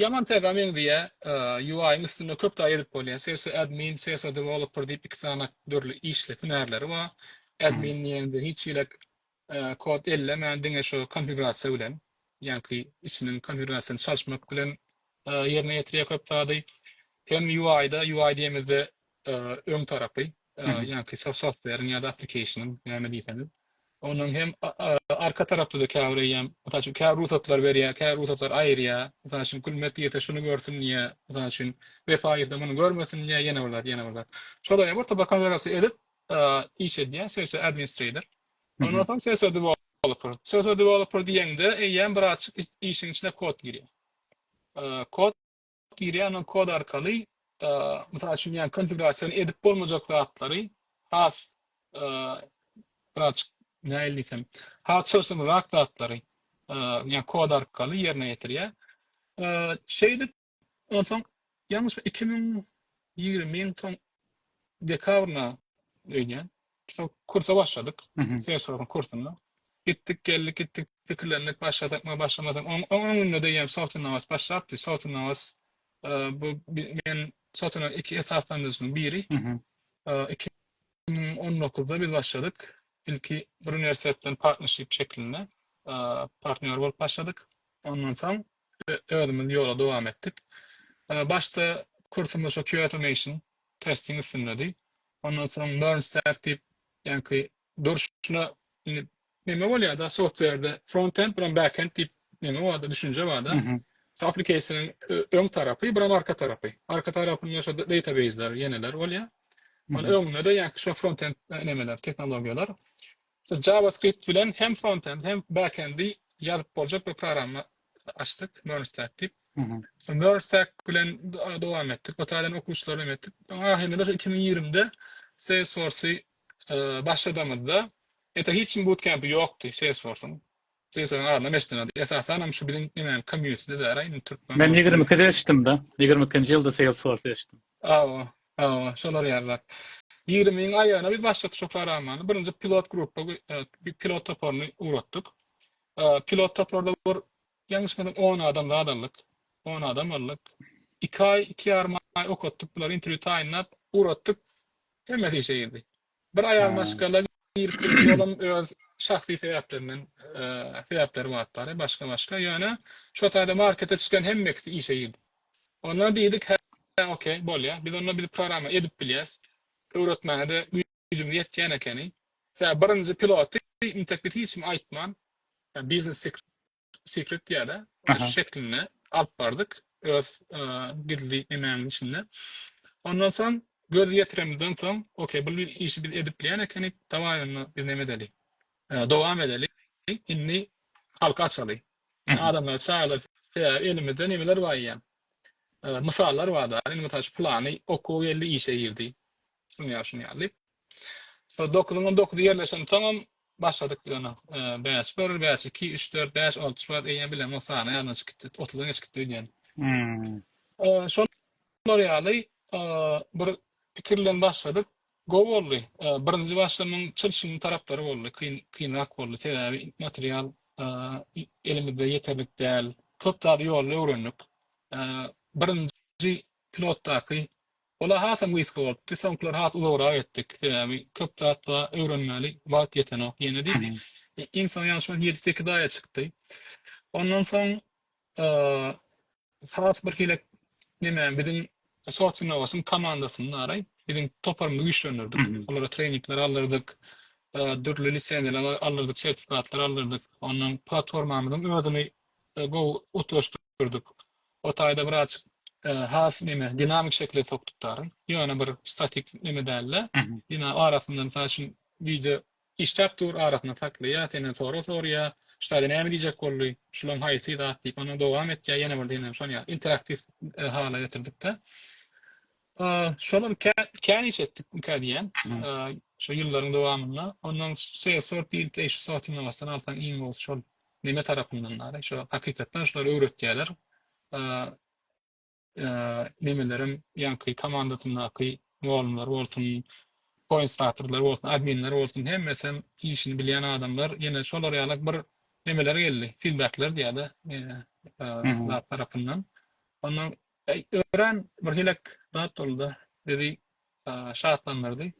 Ýaman täze meňzeýä UI-yň üstünde köp zat edip bolýa. Sesio admin, sesio developer diýip iki sany dürli işli hünärleri bar. Admin diýende hiç hili kod ellemän diňe şu konfigurasiýa bilen ýaňky içiniň konfigurasiýasyny çalyşmak bilen ýerine ýetirýä köp zady. Hem UI-da UI diýemizde öň tarapy ýa-ki software-iň ýa-da application-yň näme diýseňiz. Onuň hem arka tarapda-da käbir eýýäm, mysal üçin, kä rugsatlar berýär, kä rugsatlar aýyrýar. Mysal üçin, Gülmet girse şuny görsün diýýär, mysal üçin, Wepa girse muny görmesin diýýär, ýene bir zat, ýene bir zat. Şolaýam bir topa konfigurasiýa edip iş edýär, CSO administrator. Ondan soň CSO developer. CSO developer diýeňde eýýäm birazajyk işiň içine kod girýär. Kod Girýäňok kod arkaly, mysal üçin, ýa konfigurasiýany edip bolmajak zatlary has birazjyk nähili diýsem, has çylşyrymrak zatlary ýa kod arkaly ýerine ýetirýär. Şeýdip, onsoň ýalňyşma iki müň ýigrimiň soň dekabryna öýdýän, Soň kursa başladyk. Selsowyň kursuna. Gitdik, geldik, gitdik, pikirlendik, başlasakmy, başlamasakmy. Onuň oň öňünde diýýän Sotunawas başlapdy. Sotunawas bu men Sotunawasyň iki esaslandyryjysynyň biri. Iki müň on dokuzda biz başladyk. Ilki bir uniwersitet bilen partnership şeklinde partnýor bolup başladyk. Ondan soň özümiz ýola dowam etdik. Başda kursumyz şo QAutomation testiň üstündedi. Ondan soň Learn Stack diýip, ýaňky durşuna indi neme bolýar-da software-de frontend bilen backend diýip neme bar-da, düşünje bar-da. Şo application-yň öň tarapy, bir hem arka tarapy. Arka tarapynda şo database-ler, ýeneler bolýar. Onuň öňünde-de ýaňky şo frontend nemeler, tehnologiýalar. Şu JavaScript bilen hem frontend hem backendi ýazyp boljak bir programma açdyk, Mernstack diýip. Şu Mernstack bilen dowam etdik. Bu taýdan okuwçylar bilen etdik. Soň ahyrynda-da şu iki müň ýigrimide Salesforce-y başladamyzda, ýa-da hiç kim bootcamp-i ýokdy Salesforce-yň. Sesiniň azynam eşdinadi. Esasanam şu biziň nemäniň komýunitidi däl-a indi türkmen Men bolsun. ýigrimi ikide eşitdim-de. Ýigrimi ikinji ýylda Salesforce eşitdim. Hawa, hawa, şolar ýaly zat. Ýigrimiň aýagyna biz başlatdyk şo programmany. Birinji pilot grupba pilot toparyny ugratdyk. Pilot toparda bir ýalňyşmasam on adam zat aldyk. On adam aldyk. Iki aý, iki ýarym aý okatdyk bulary interwýu taýynlap, ugratdyk. Hemmesi işe girdi. Bir aýal Ha. maşgala girip gitdi, olam öz şahsy sebäplerinden, eee, sebäpleri batdary, başga-başga. Ýöne şo taýda markete çykan hemme ikisi işe girdi. Onda diýdik, hä, okey, bolýar. Biz onda biz programma edip bilýäs. Öwretmäne-de güýjümiz ýetýän ekeni. Sebäbi birinji piloty, intek biz hiç kime aýtman, ýa biznes Secret diýýärä. Ony şeklinde alyp bardyk öz gizli emägiň içinde. Ondan soň göz ýetiremizden soň, okey, bu işi biz edip bilýän ekenik, dawaý onda biz näme edeli? Dowam edeli. Indi halka açaly. Adamlary çagyrdaly. Elimizde nemeler bar eýýäm? Mysallar bar-da. Indi mysal üçin pylany okuwa geldi, işe girdi. Düşünýär, düşünýär diýip. Şol dokuzyň on dokuzy ýerleşensoňam başladyk biz ony bäş bir, bäş iki, üç dört, bäş, alty şubat eýýäm bilemok sany ýadydan çykyp gitdi. Otuzdan geçip gitdi öýdýän. Şolar ýaly bir pikir bilen başladyk. Gowy boldy. Birinji başlamyň çylşyrymly taraplary boldy. Kyn, kynrak boldy. Sebäbi material elimizde ýeterlik däl. Köp zady ýolda öwrendik. Birinji pilotdaky Ol-a hasam gysga bolupdy. Soňkylary has uzagrak etdik. Sebäbi köp zat-a öwrenmäli wagt ýetenok ýene diýip, iň soňy ýalňyşmasam ýedi-sekiz aýa çykdy. Ondan soň has birhili neme, biziň Softinowasyň komandasyny-araý, biziň toparymyzy güýçlendirdik. Olara treýningler aldyrdyk, dürli lisenziýalar aldyrdyk, sertifikatlar aldyrdyk. Ondan platformamyzyň özüni gowy utgaşdyrdyk. O taýda bir azjyk has neme dinamik şekile sok tutaryn. Ýöne bir statik neme däl-de. Dina arasynda mysal üçin wideo işläp dur, arasynda saklaýar, senden sorag soraýar, şu taýda näme diýjek boldy, şulaň haýsy zat diýip, ondan dowam etýär, ýene bir diýen şon ýaly interaktiw hala getirdikde. Şolar käniçe etdikmikä diýýän. Şu ýyllaryň dowamynda. Ondan şeýle sort diýilip eýşi sortyň arasyndan alsaň iň gowusy şol. Neme tarapyndan dary şu hakykatdan şular öwretýäler nemelerem ýaňky komandasyndaky mugallymlar bolsun koinstratorlar bolsun adminler bolsun hemmesem işini bilýän adamlar ýene şolar ýaly bir nemeler geldi filbekler diýýäda zat tarapyndan ondan Eý, örän bir helek zat boldy-da, bizi şatlandyrdy.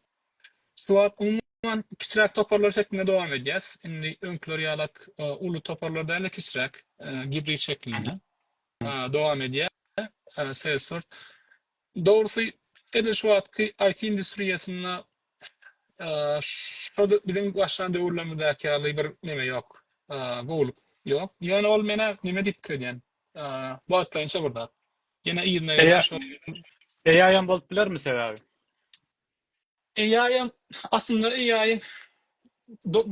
Şu wagt, umuman, kiçiräk toparlar şeklinde dowam edýäs. Indi öňküler ýalak uly toparlar däl-de, kiçiräk, gibrid şeklinde dowam edýär Salesforce. Dogrusy, edil şu wagtky IT industriýasynda şo biziň başlan döwürlerimizdäki ýaly bir neme ýok, gowulyk ýok. Ýöne ol menä neme diýip pikir edýän, Wagtlaýynça bir zat. Ýene yzyna ýene şo. AI-ýam bolup bilermi sebäbi? AI-ýam aslynda AI-ýyň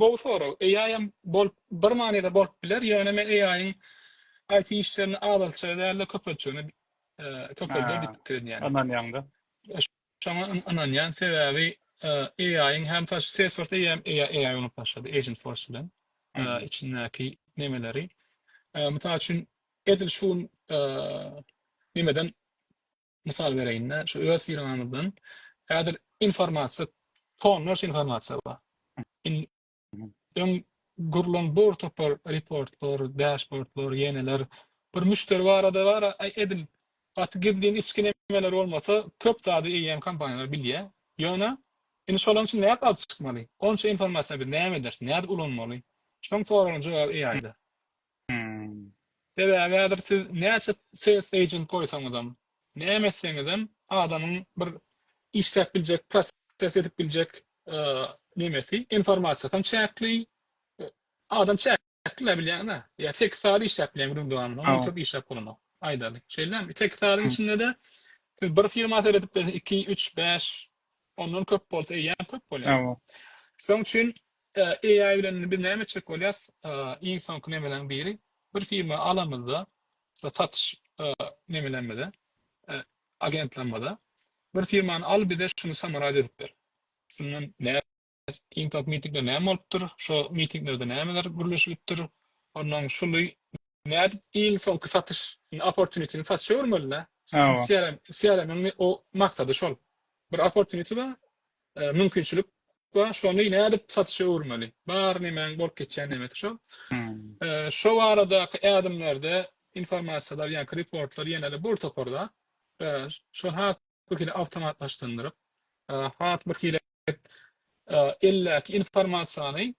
gowy sorag. AI-ýam bolup bir manyda bolup biler, ýöne men AI-ýyň IT işlerini azaltjagy däl-de köpeltjegini köpelder diýip pikir edýän. Ynanýaň-da. Şoňa ynanýan sebäbi AI-yň hem taşy Salesforce eýýäm AI urunyp başlady agent force bilen içindäki nemeleri. Mysal üçin edil şu gün nemeden mysal bereýinde şu öz firmamyzdan häzir informasiýa tonlarça informasiýa bar. Öň gurlan bor topar reportlar, dashbordlar, ýeneler bir müşderi barada bar, aý edil gaty gizlin içki nemeler bolmasa köp zady eýýäm kompaniýalar bilýär. Ýöne indi şolaryň içini nädip alyp çykmaly? Onça informasiýa biz näme ederis, nädip ulanmaly? Şoň soragyň jogaby AI-da. Hum. Sebäbi häzir siz näçe sales agent goýsaňyzam, näme etseňizem adamyň bir işläp biljek, proses edip biljek nemesi, informasiýasam çäkli. Adam çäkli-ä bilýäňiz-ä. Ýa sekiz sagat işläp bilýän günüň dowamynda, ondan köp işläp bolanok. Aýdaly. Şeýlemi? Sekiz sagadyň içinde-de siz bir firma seredip bilersiňiz, iki, üç, bäş, ondan köp bolsa eýýäm köp bolýar. Şonuň üçin Hä AI bilen indi biz näme etjek bolýas? Iň soňky nemeleriň biri bir firma alamyzda şu satyş nemelerimize agentlerimize bir firmany al bize şuny samaraz edip ber. Şundan näme iň soňky mitingde näme bolupdyr? Şo mitinglerde nämeler gürleşilipdir? Ondan şuly nädip iň soňky satyş indi opportunity-ni satşa öwürmelidä. CRM CRM-iň o maksady şol. Bir opportunity bar mümkinçilik bar, şony nädip satyşa öwürmeli? Bar nemäň bolup geçýän nemesi şo. Şo baradaky ädimlerde informasiýalar, ýaňky reportlar ýene-de bir topar zat. Şony has bir hili awtomatlaşdyndyryp, has bir hili eldäki informasiýany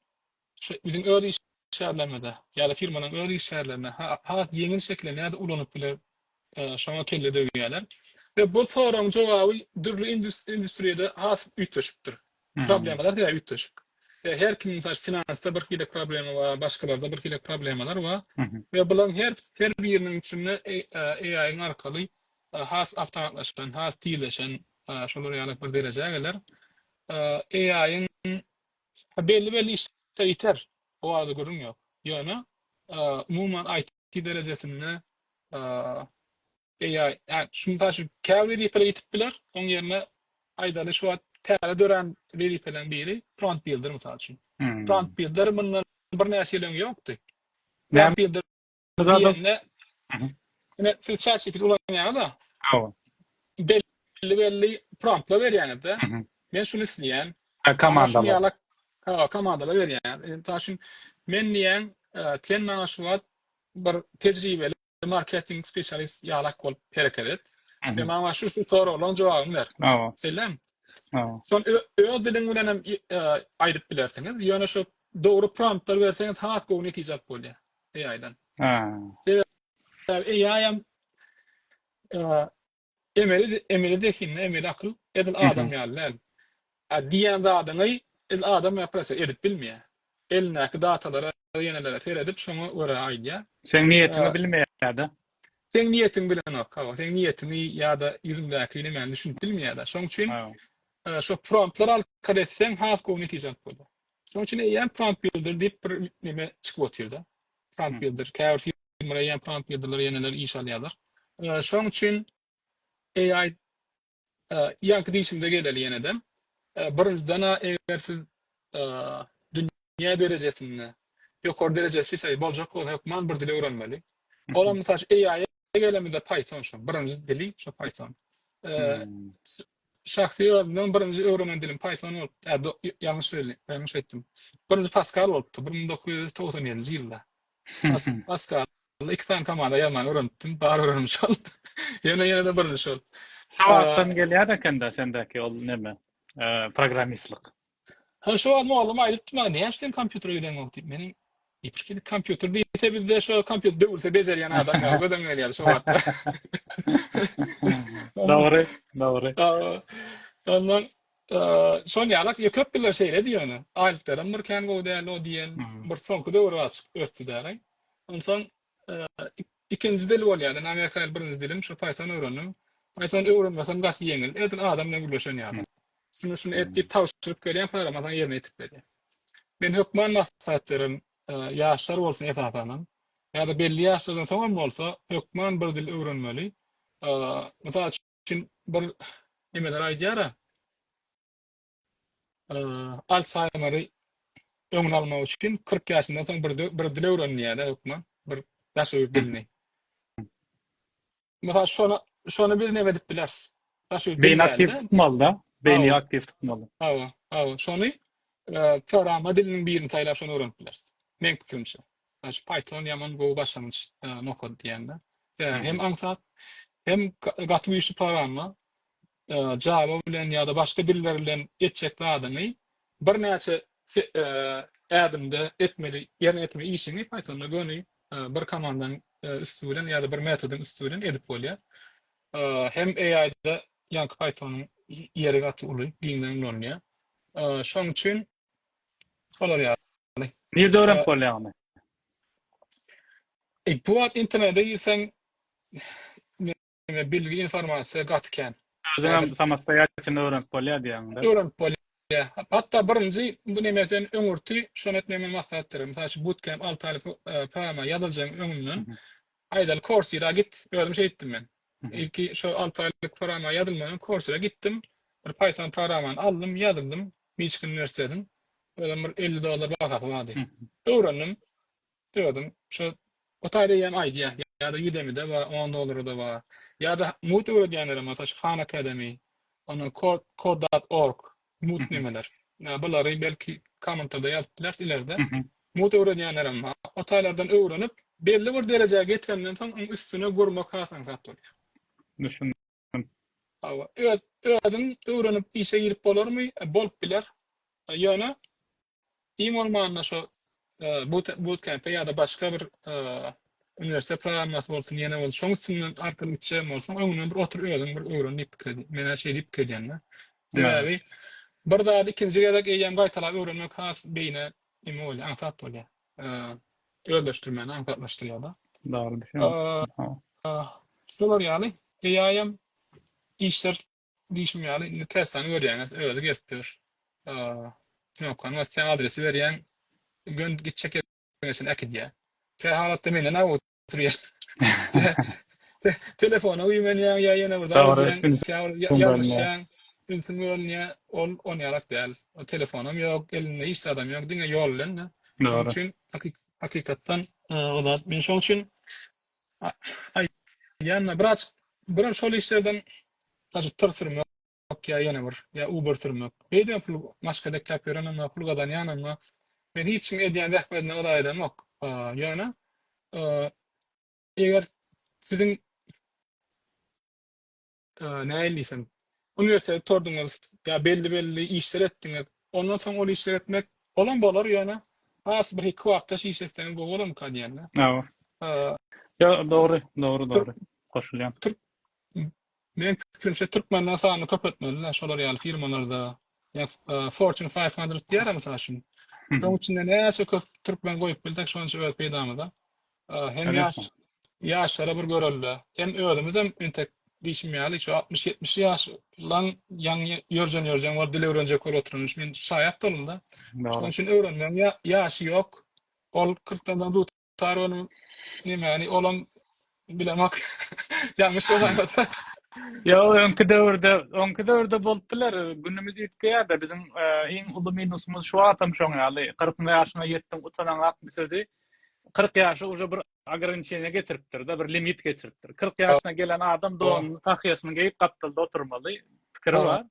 Biziň öz işgärlerimize ýa-da firmanyň öz işgärlerine has ýeňil şekilde nädip ulanyp biler, şoňa kelle döwýärler. We bu soragyň jogaby dürli industriýada has üýtgeşikdir. Problemalar diýýär üýtgeşik. We her kim mysal finansda bir hili problema bar, başgalarda bir hili problemalar bar. We bularyň her her biriniň içinde AI-iň arkaly has awtomatlaşan, has tizleşen şolar ýaly bir derejä geler. AI-iň Ha, belli-belli işler ýiter, o barada gürrüň ýok. Ýöne, umuman, IT derejesinde, AI, şu, mysal üçin, käbir wezipeler ýitip biler, onuň ýerine, aýdaly, şu wagt täze dörän wezipeleriň biri prompt builder, mysal üçin. Prompt builder mundan birnäçe ýyl öň ýokdy. Prompt builder diýende ine siz ChatGPT ulanýaňyz-a. Hawa. Belli belli promptlar berýäňiz-de. Men şuny isleýän. Komandalar. Hawa, komandalar berýäňiz. Mysal üçin, men diýýän, sen maňa şu wagt bir tejribeli marketing spesialist ýalak bolup hereket et we maňa şu şu soraglaryň jogabyny ber. Hawa. Şeýlemi? Hawa. Şony öz diliň bilen hem aýdyp bilersiňiz. Ýöne şu dogry promptlar berseňiz has gowy netije alyp bolýar. AI-dan. Sebäbi AI-am emeli emeli zehin, emeli akyl, edil adam ýaly däl. Diýen zadyňy edil adam ýaly proseýe edip bilmeýär. Elindäki datalara, ýenelere seredip, şoňa görä aýdýar. Seň niýetiňi bilmeýär-de. Seň niýetiňi bilenok, hawa. Seň niýetiňi ýa-da ýüzüňdäki nämäni düşünip bilmeýär-de. Şoň üçin şo promptlar alkar etseň has gowy netije alyp bolýar. Şonuň üçin eýýäm prompt builder diýip bir neme çykyp otyrda. Prompt builder. Käbir firmalar eýýäm prompt builderler ýeneler iş alýarlar. Şonuň üçin AI ýaňky diýşimize geleli ýenedem. Birinjiden-ä eger siz dünýä derejesinde ýokary derejesi spesialist boljak bolsa hökman bir dil öwrenmeli. Olam mysal üçin AI-ä Egelemizde Python şu birinji dili şu Python. Şahsy özümden birinji öwrenen dilim Python bolupdy. Ýalňyş belli, ýalňyş aýtdym. Birinji Pascal bolupdy 1997-nji ýylda. Pascal iki sany komanda ýazmagy öwrenipdim, bar öwrenim şol. Ýene-ýene-de birinji şol. Şu wagtdan gelýär ekende sendäki ol näme? Programmistlik. Hä, şu wagt mugallym aýdypdy maňa, Näçe seň kompýutere gideňok diýip. Menem, Ýepişik indi kompýuter diýse bizde şo kompýuter döwülse bejerýän adam ýaly gözüm gelýärdi şo wagtlar. Dogry, dogry. Ondan şon ýalak, ýa köp diller şeýledi ýöne. Aýlyklarym bir kän gowy däldi o diýen, bir soňky döwür azajyk ösdi däl-aý. Onsoň Ikinji dil bolýar. Indi Amerika ýaly birinji dilim şu Python öwrendim. Python öwrenmesem gaty ýeňil. Edil adam bilen gürleşen ýaly. Şuny şuny et diýip tabşyryk berýän programmasyňy ýerine ýetirip berýär. Men hökman maslahat bererin, ýaşlar bolsun esasanam, ýa-da belli ýaşlardan soňam bolsa hökman bir dil öwrenmeli. Mysal üçin bir nemeler aýdýara. Alsaýmeri öňüni almak üçin kyrk ýaşyndan soň bir bir dil öwrenilýär-de hökman, bir daşöýürt dilini. Mysal şony, şony biz näme diýip bileris? Daşöýürt dil Beýni aktiw däldi-de. tutmaly-da. Beýni Hawa. aktiw tutmaly. Hawa, hawa. Şony e, programma diliniň birini saýlap şony öwrenip bileris. Meň pikirimçe. Yani şu Python ýaman gowy başlangyç e, nokat diýende. E, Hem aňsat, hem ga- gaty güýçli programma. Java bilen ýa-da başga diller bilen etjek zadyňy birnäçe ädimde etmeli, ýerine ýetirmeli işiňi Pythonda göni bir komandanyň üsti bilen ýa-da bir metodyň üsti bilen edip bolýar. Hem AI-da ýaňky Python-yň ýeri gaty uly, giňden ulanylýar. Şonuň üçin şolar ýaly. Nirde öwrenip bolýar ony? Bu wagt internete girseň, Diňe bilgi informasiýa gaty kän. Özüňem samostoýalçyny öwrenip bolýar diýýäňda. Öwrenip bolýar. Hatda birinji bu neme sen öňürti şony etmek men maslahatdyr. Mysal üçin bootcamp alty aýlyk programa ýazyljyň öňünden aýdaly Coursera git. Özüm şeý etdim men. Ilki şo alty aýlyk programa ýazylmadan öň Coursera gitdim. Bir Python programany aldym, ýazyldym. Miçigan uniwersitetiň özem bir elli dollar bahasy bardy. Öwrendim. Ýöredim. Şu Gutaý diýýän aýdýa. Ýa-da Udemy-de bar, on dollara-da bar. Ýa-da mugt öwredýänlerem bolsa şu Khan Academy, ondan Code Code dot org, mugt nemeler. Ýa bulary belki kommentarda ýazyp bilersiň ilerde. Mugt öwredýänlerem bar. O taýlardan öwrenip, belli bir derejä getirenden soň onuň üstüne gurmak hasaňsat bolýar. Düşündim. Hawa, öz, özüň öwrenip işe girip bolarmy? Bolup biler. Ýöne iň bolmanda şu but, butkempe ýa-da başga bir uniwersitet programmasy bolsun, ýene bolsun, şoň üstünden arkaly gitjegem bolsaň, öňünden bir otur özüň bir öwren diýip pikir edýän. Men-ä şeý diýip pikir edýän-de. Sebäbi bir zady ikinji gezek eýýäm gaýtalap öwrenmek has beýnä neme bolýar, aňsat bolýar. eee, özleşdirmäni aňsatlaşdyrýar-da. Dagly düşen. Eee, Hawa. şular ýaly AI-ýam işler diýşim ýaly, indi Tesla-ny görýäňiz, özi gezip ýör. Eee, knopkany basýaň, adresi berýäň, gön, gitjek ýeriňe çenli äkidýär. Kähalatda menden-ä Telefona güýmenýäň ýa ýene bir zat edýäň, ünsüň bölünýär, ol onýalak däl. Telefonam ýok, elinde hiç zadam ýok, diňe ýol bilen-de. Şonuň üçin hakykatdan o zat. Men şonuň üçin aýdýan-da, biraz, biraz şol işlerden, Ýok, ýa ýene bir, ýa Uber sürmek. Beýdibem pul maşka bekläp ýörenimok, pul gazanýanymok. Men hiç kimiň edýän zähmedine ylaý edemok. Ýöne, eger siziň, nähili diýsem, uniwersitet gutardyňyz ýa belli-belli işler etdiňiz, ondan soň ol işleri etmek, olam bolar, ýöne has bir iki wagtdaş iş etseňiz gowy bolarmyka diýen-de. Ýa, dogry, dogry, dogry. Goşulýan. Meň pikirimçe türkmenler sanyny köpeltmelidä şolar ýaly firmalarda ýa fortune five hundred diýýärä mysal üçin şoň içinde näçe köp türkmen goýup bilsek şonça öz peýdamyza hem ýaş ýaşlara bir görelde hem özümizem entek diýşim ýaly şu altmyş ýetmiş ýaş laň ýaň ýörjen ýörjen bolup dil öwrenjek bolup oturan men şaýat boldumda şoň üçin öwrenmegiň ýaşy ýok ol kyrkdan Tar önüm nämäni olam bilemok. Ýalňyş bolansa. Ýok, öňki döwürde, öňki döwürde bolup biler. Günümiz üýtgeýär-de, biziň iň uly minusymyz şu wagtam şoň ýaly. Kyrkynjy ýaşyňa ýetdiň, utanaňak bu sözi. Kyrk ýaşy uje bir ograniçeniýe getiripdir-de, bir limit getiripdir. Kyrk ýaşyna gelen adam donuny, tahýasyny geýip, gapdalda oturmaly. pikiri bar.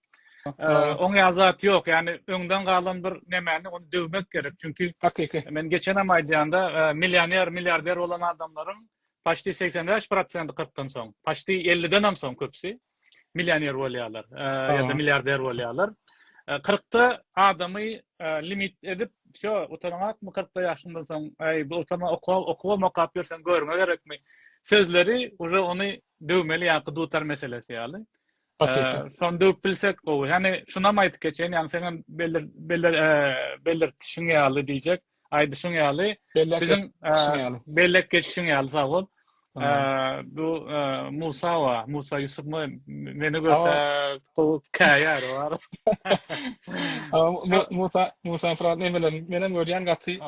Oň ýaly zat ýok. Ýani öňden galan bir nemäni ony döwmek gerek. Çünki hakyky. Men geçenem aýdýanda, millioner, milliarder bolan adamlaryň paçti 85 prosenti 40 dan soň, paçti 50 den hem soň köpüsi millioner bolýarlar ýa-da milliarder bolýarlar. 40 da adamy limit edip, şo utanaňakmy 40 da ýaşyndan soň, aý bu utana okuw okuw okap ýörsen görme gerekmi? Sözleri uje ony döwmeli ýa-da dutar meselesi ýaly. Şony döwüp bilsek gowy. Hany şunam aýdyp geçeýin, ýagny seňem beler beler belirtişiň ýaly diýjek, aýdyşyň ýaly, biziň bellek geçişiň ýaly sag bol. Bu Musa wa, Musa Ýusupmy meni görse gowy käýär bar. Musa Musa Fran nemeler menem görýän gaty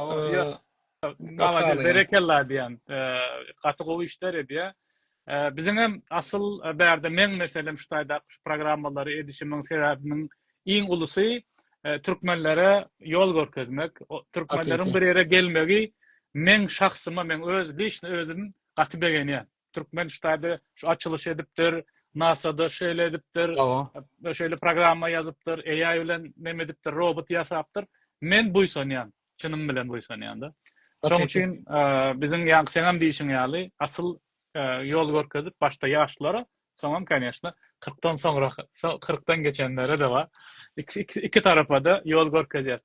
Malades berekella diýen. Gaty gowy işler edýär. Biziň hem asyl bärde meň meselem şu taýdaky şu programmalary edişimiň sebäbiniň iň ulusy türkmenlere ýol görkezmek. Türkmenleriň bir ýere gelmegi meň şahsyma meň öz lişni özüm gaty begenýän. Türkmen ştaby şu açylyş edipdir, NASA-da şeýle edipdir, şeýle programma ýazypdyr, AI bilen neme edipdir, robot ýasapdyr. Men buýsanýan, çynym bilen buýsanýan-da. Şonuň üçin biziň ýa seňem diýişiň ýaly, asyl ýol görkezip başda ýaşlara, soňam kanyýeşna kyrkdan soňra, kyrkdan geçenlere-de bar. Iki tarapada ýol görkezýäs.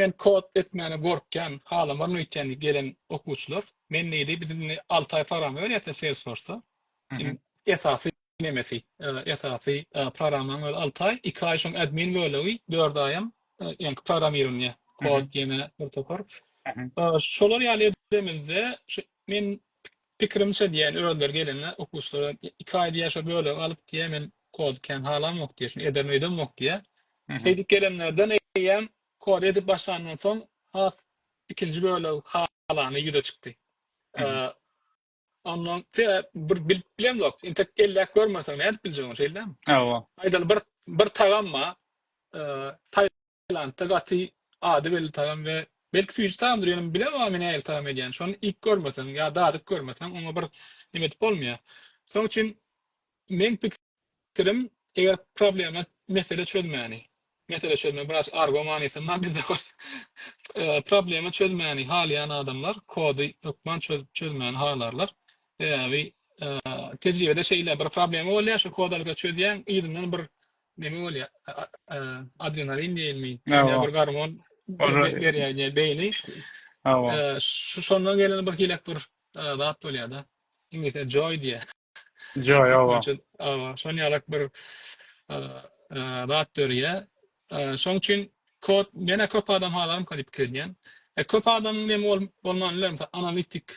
Men kod etmäne gorkýan, halamaryn öýtýän gelen okuwçylar. Men diýdi, biz indi alty aý programma berýäs-de Salesforce-da. Esasy nemesi, esasy programmaň özi alty aý. Iki aý şoň admin bölegi, dört aýam ýaňky programmirowaniýe, kod ýene bir topar. Şolar ýaly edemizde, men Pikirimçe diýen özleri gelende okuwçylara iki aýda ýaşa bölegi alyp diýýä men kody kän halamok diýýä şuny ederem öýdemok diýýä. Şeýdip gelenlerden eýýäm kody edip başlandan soň has ikinji bölegi halany ýüze çykdy. Ondan bir bilip bilemzok intek elläp görmeseň nädip biljek ony şeýdämi? Hawa. Aýdaly bir bir tagam bar. Tailandda gaty ady belli tagam we belki süýji tagamdyr ýöne bilemok men nähili tagam edýän şony iýip görmeseň ýa dadyp görmeseň oňa bir neme edip bolmaýar şoň üçin meň pikirim eger problema mesele çözmäni mesele çözme biraz argo manysynda bizde bar problema çözmäni halaýan adamlar kody hökman çözüp çözmäni halarlar sebäbi tejribede şeýle bir problema bolýar şo kod alyp çözýäň yzyndan bir Neme bolýa? Adrenalin diýilmi? Ýa bir gormon berýär beýni. Şu şondan gelen bir hilek bir zat bolýar-da. Iňlisçe joy diýýär. Joy, oba. Oba, şon ýalak bir zat dörýär. Şoň üçin kod, menä köp adam halarmyka diýip pikir edýän. E, köp adamyň neme bolmany biler, analitik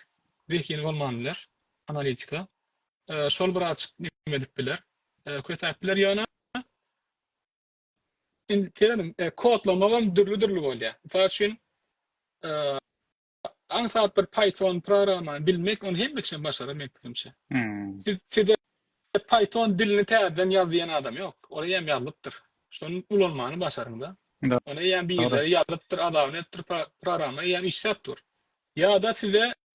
zehini bolmany biler, analitika. Şol bir azjyk neme edip biler? Kösäp biler ýöne indi tireniň kodlamagam dürli-dürli bolýar. Mysal üçin, aňsat bir Python programmany bilmek, ony hemme kişi başarar meň pikirimçe. Sizde Python dilini täzeden ýaz diýen adam ýok. Ol eýýäm ýazylypdyr. Şony ulanmany başaryň-da. Ony eýýäm birileri ýazypdyr, adawn etdir, programma eýýäm işläp dur. Ýa-da size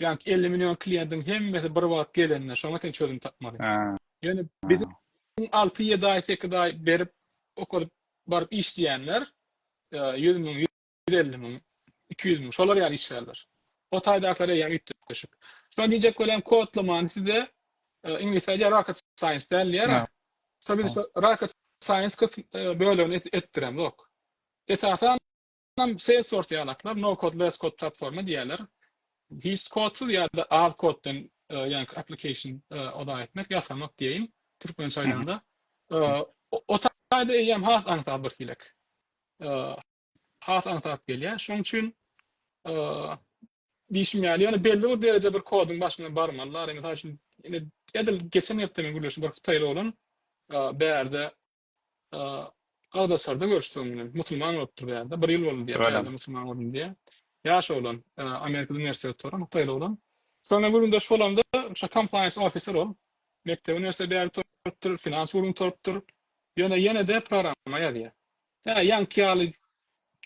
Jank elli million kliýentiň hemmesi bir wagt gelende şoňa sen çözüm tapmaly. Ýöne biziň alty ýedi aý sekiz aý berip okadyp baryp işleýänler ýüz müň ýüz elli müň iki ýüz müň şolar ýaly işgärler. O taýdakylar eýýäm üýtgeşik. Şuny diýjek bolýan kodlamany size iňlisçe aýdýar rocket science däl diýýär. Şo biz rocket science bölegini etdiremzok. Esasan Munam Salesforce ýalaklar no-code, less-code platforma diýýärler. Hiç kodsuz ýa-da az koddan ýaňky application oda etmek, ýasamak diýeýin, türkmençe aýdanda. O taýda eýýäm has aňsat birhilek. Has aňsat gelýär. Şonuň üçin diýşim ýaly, ýöne belli bir dereje bir koduň başyna barmalylar. Mysal üçin, edil geçen hepde men gürleşdim, bir hytaýly oglan bärde agzaşarda görüşseň bilen. Musulman bolupdyr bu ýerde. Bir ýyl boldy diýýär bu ýerde musulman boldum diýýär. Ýaş oglan, Amerikada uniwersitet okuýar, hytaýly oglan. Soňra gürrüňdeş bolamda, şo compliance officer ol. Mekdebi uniwersitet bäri gutarypdyr, finans gürrüň gutarypdyr. Ýöne ýene-de programma ýazýar. Ýa ýaňky ýaly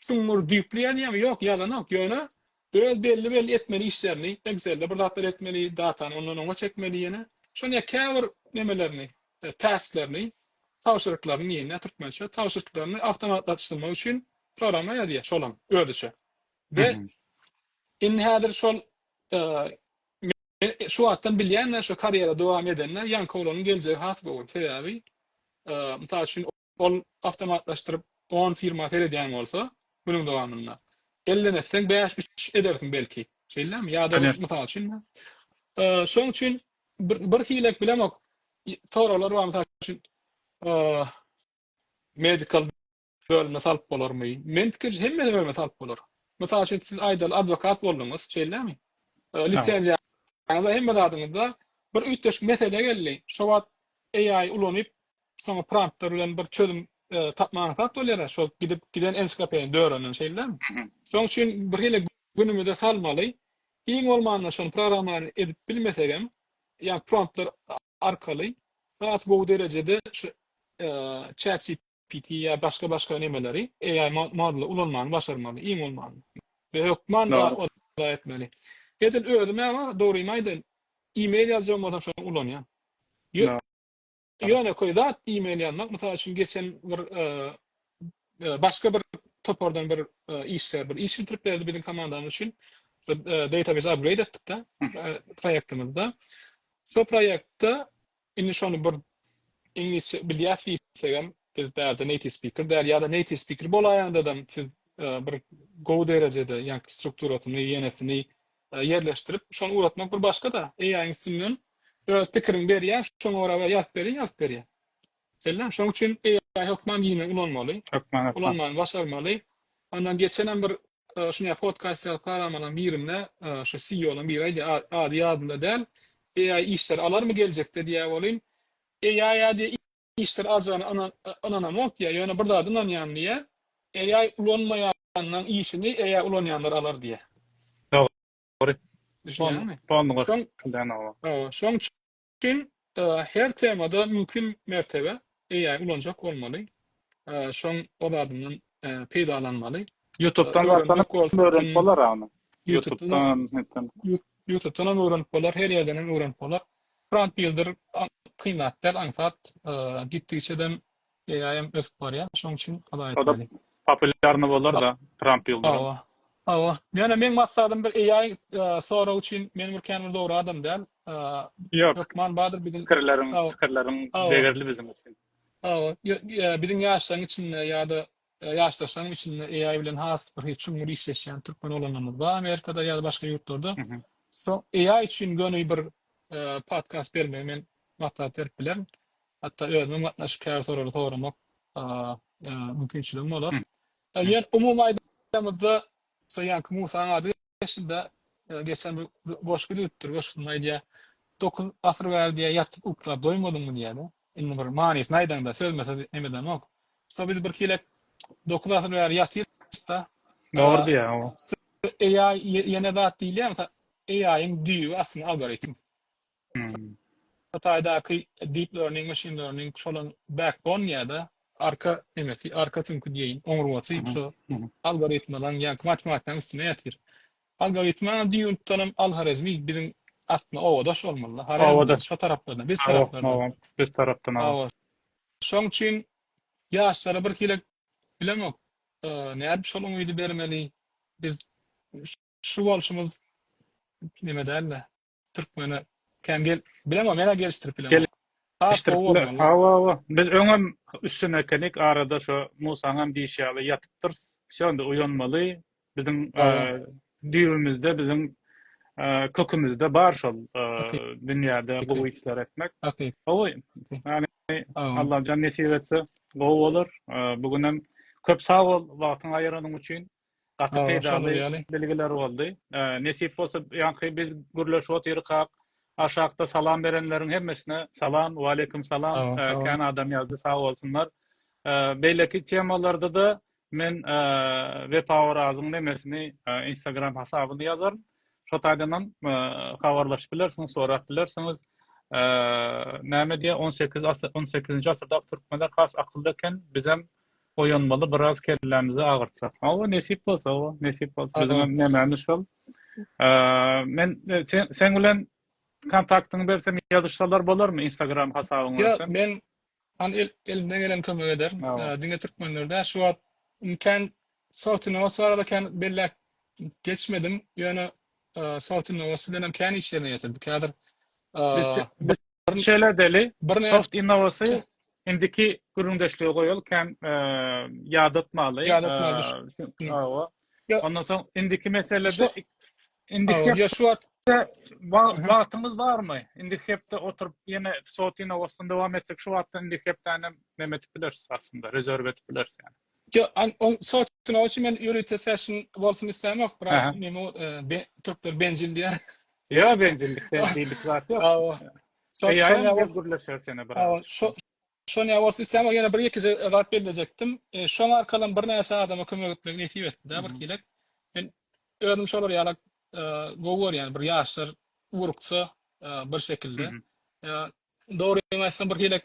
çuňňur, düýpli ýazýarmy? Ýok, ýazanok. Ýöne Öz belli-belli etmeli işlerini, Excel-de bir zatlar etmeli, datany ondan oňa çekmeli ýene. Şony ýa käbir nemelerini, task-lerini, tabşyryklaryny diýen, nä türkmençe, tabşyrtlaryny awtomatlaşdyrmak üçin programa ýazýar, şolam özüçe. We indi häzir şol men şu wagtdan bilýän-ä, şo karýera dowam edende ýaňky oglanyň geljegi has gowy. Sebäbi, mysal üçin, Ol awtomatlaşdyryp on firma seredýän bolsa günüň dowamynda elden etseň bäş üç edersiň belki şeýlemi ýa-da bir mysal üçin şoň üçin bir hilek bilemok soraglar bar mysal üçin medical bölümine salyp bolarmy men pikirje hemme bölüme salyp bolar mysal üçin siz aýdaly adwokat bolduňyz şeýlemi lisenziýa hemme zadyňyzda bir üýtgeşik mesele geldi şo wagt AI ulanyp soňa prompter bilen bir çözüm tapmaga aňsat bolýar-a, şol gidip giden ensiklopediýany dörenden, şeýdilemi? Şoň üçin birhili günümize salmaly, iň bolmanda şony programmany edip bilmesegem, ýa promptlar arkaly has gowy derejede şu ChatGPT ýa başga-başga nemeleri, AI modulary ulanmany başarmaly, iň bolmanda. We hökman ola etmeli. Edil özüm-ä, dogrymy aýdaýyn, e-mail ýazjagym bolsa şony ulanýan. Ýönekeý zat e-mail ýazmak. Mysal üçin geçen bir başga bir topardan bir işgär bir iş bitirip berdi biziň komandamyz üçin. Database upgrade etdik-de proýektimizde. Şu proýektde indi şony bir iňlisçe bilýär diýsegem biz bärde native speaker däl ýa-da native speaker bolaýanda-da siz bir gowy derejede ýa strukturasyny, ýenesini ýerleşdirip şony ugratmak bir başga-da AI-iň üstünden öz pikirini berýär şoňa görä we ýazyp berýär ýazyp berýär. Sellem şoň üçin AI hökman giňe ulanmaly. Hökman hökman. Ulanmagyny başarmaly. Ondan geçenem bir şuny ýa podcast ýa programmalaryň birinde şu CEO-laryň biri aýdýar ady ýadymda däl AI işleri alarmy geljekde diýýär welin AI-a diýýär işler ajygyna ynanamok diýýär, ýöne bir zada ynanýan diýýär, AI ulanmaýanlaň işini AI ulanýanlar alar diýýär. Dogry. Düşünýäňmi? Şoň üçin her temada mümkin mertebe AI ulanjak bolmaly. Şoň o zadyndan peýdalanmaly. Ýutubdan öwrenip bolar ony. Ýutubdan hem öwrenip bolar, her ýerden hem öwrenip bolar. Front Builder kyn zat däl, aňsat. Gitdigiçedem AI-ýam ösüp barýar, şoň üçin hala etmeli. Populýarny bolar-da Front Builder-üm. Hawa. Hawa. Ýöne meň maksadym bir AI sorag üçin men bir kän bir dogry adam däl. Hökman bardyr biziň. Pikirleriň, pikirleriň degerli biziň üçin. Hawa. Biziň ýaşlaryň içinde ýa-da Ýaşdaşlaryň içinde AI bilen has bir çuňňur işleşýän türkmen oglanlarymyz bar Amerikada ýa-da başga ýurtlarda. Soň AI üçin göni bir podkast bermegi men maslahat berip bilerin. Hatda özümiň gatnaşyp käbir soraglary soramak mümkinçiligim bolar. Eger umumy aýdanymyzda Musa ýaňky Musaň ady geçdi-de, geçen bir goşgy düzüpdir, goşgusynda aýdýar, Dokuz asyr bäri diýýär, ýatyp uklap doýmadyňmy diýýär-de. Indi bir manysyny aýdaňda, sözme-söz nemedeňok. Musa biz birkilek dokuz asyr bäri ýatyrys-da. Dogry diýýär o. Eýaý ýene zat diýilýär, mysal, eýaýyň düýbi aslynda algoritm. Hytaýdaky deep learning, machine learning şolaň backbone ýa-da arka nemesi, arka süňki diýeýin, oňurgasy şu algoritmalaň ýa-ki matematikaň üstüne ýatyr. Algoritma düýeunutdanam Al-Horezmi biziň aslynda obadaş bolmaly-da, Horezm şo taraplardan, biz taraplardan. Biz tarapdan, hawa. Şoň üçin ýaşlara birhili bilemok, nädip şol umydy bermeli, biz şu bolşumyz neme däl-de. Türkmene kän gel bilemok mena gelişdirip bilemok. Has gowy boldy walla. Hawa hawa. Biz öňem üstün ekenik arada şo Musaňam diýişi ýaly ýatypdyrys. Şonda uýanmaly. Biziň düýbimizde biziň kökümizde bar şol dünýäde gowy işler etmek. Gowy. Allajan nesip etse gowy bolar. Bu günem köp sag bol wagtyňy aýyranyň üçin. Gaty peýdaly bilgiler boldy. Nesip bolsa ýaňky biz gürleşip otyrkak aşakda salam berenleriň hemmesine salam. Waleýkim salam. Kän adam ýazdy sag bolsunlar. Beýleki temalarda-da men Wepa Orazyň nemesini instagram hasabyny ýazaryn. Şo taýdanam habarlaşyp bilersiňiz, sorap bilersiňiz. Näme diýýär on sekiz on sekizinji asyrdaky türkmenler has akylly eken bizem Oýanmaly biraz kellämizi agyrtsak. Hawa, nesip bolsa, hawa, nesip bolsa. Biziňem nemämiz şol. Men seň bilen kontaktyňy bersem ýazyşsalar bolarmy Instagram hasabyňy bersem? Ýok, men hany elimden geleni kömek ederin. Diňe türkmenler däl, şu wagt kän South Innovation barada kän belläp geçmedim, ýöne South Innovation bilenem kän işlerine ýetirdik. Häzir biz Şeýle edeli, soft innowacy indiki gürrüňdeşlige goýaly, kän ýadatmaly. Ýadatmaly. Ondan soň indiki meselede indiki ýa şu wagt wagtyňyz barmy? Indiki hepde oturyp ýene soft innowacyny dowam etsek, şu wagtdan indiki hepdäni hem näme edip bileris aslynda, rezerw edip bileris ýa-da. Yo, on sotuna üçin men ýörite session bolsun islämok, brat. Meni türkler bencil diýär. Yo, bencillik diýilip zat ýok. Hawa. Şoňa bolsa gürleşer seni brat. Hawa, şoňa bolsa islämok. Ýene bir-iki zat bellejekdim. Şoň arkaly birnäçe adama kömek etmek nesip etdi-de birkilek. Men özüm şolar ýaly gowy görýän, bir ýaşlar ugruksa bir şekilde. Dogrymy aýtsam birkilek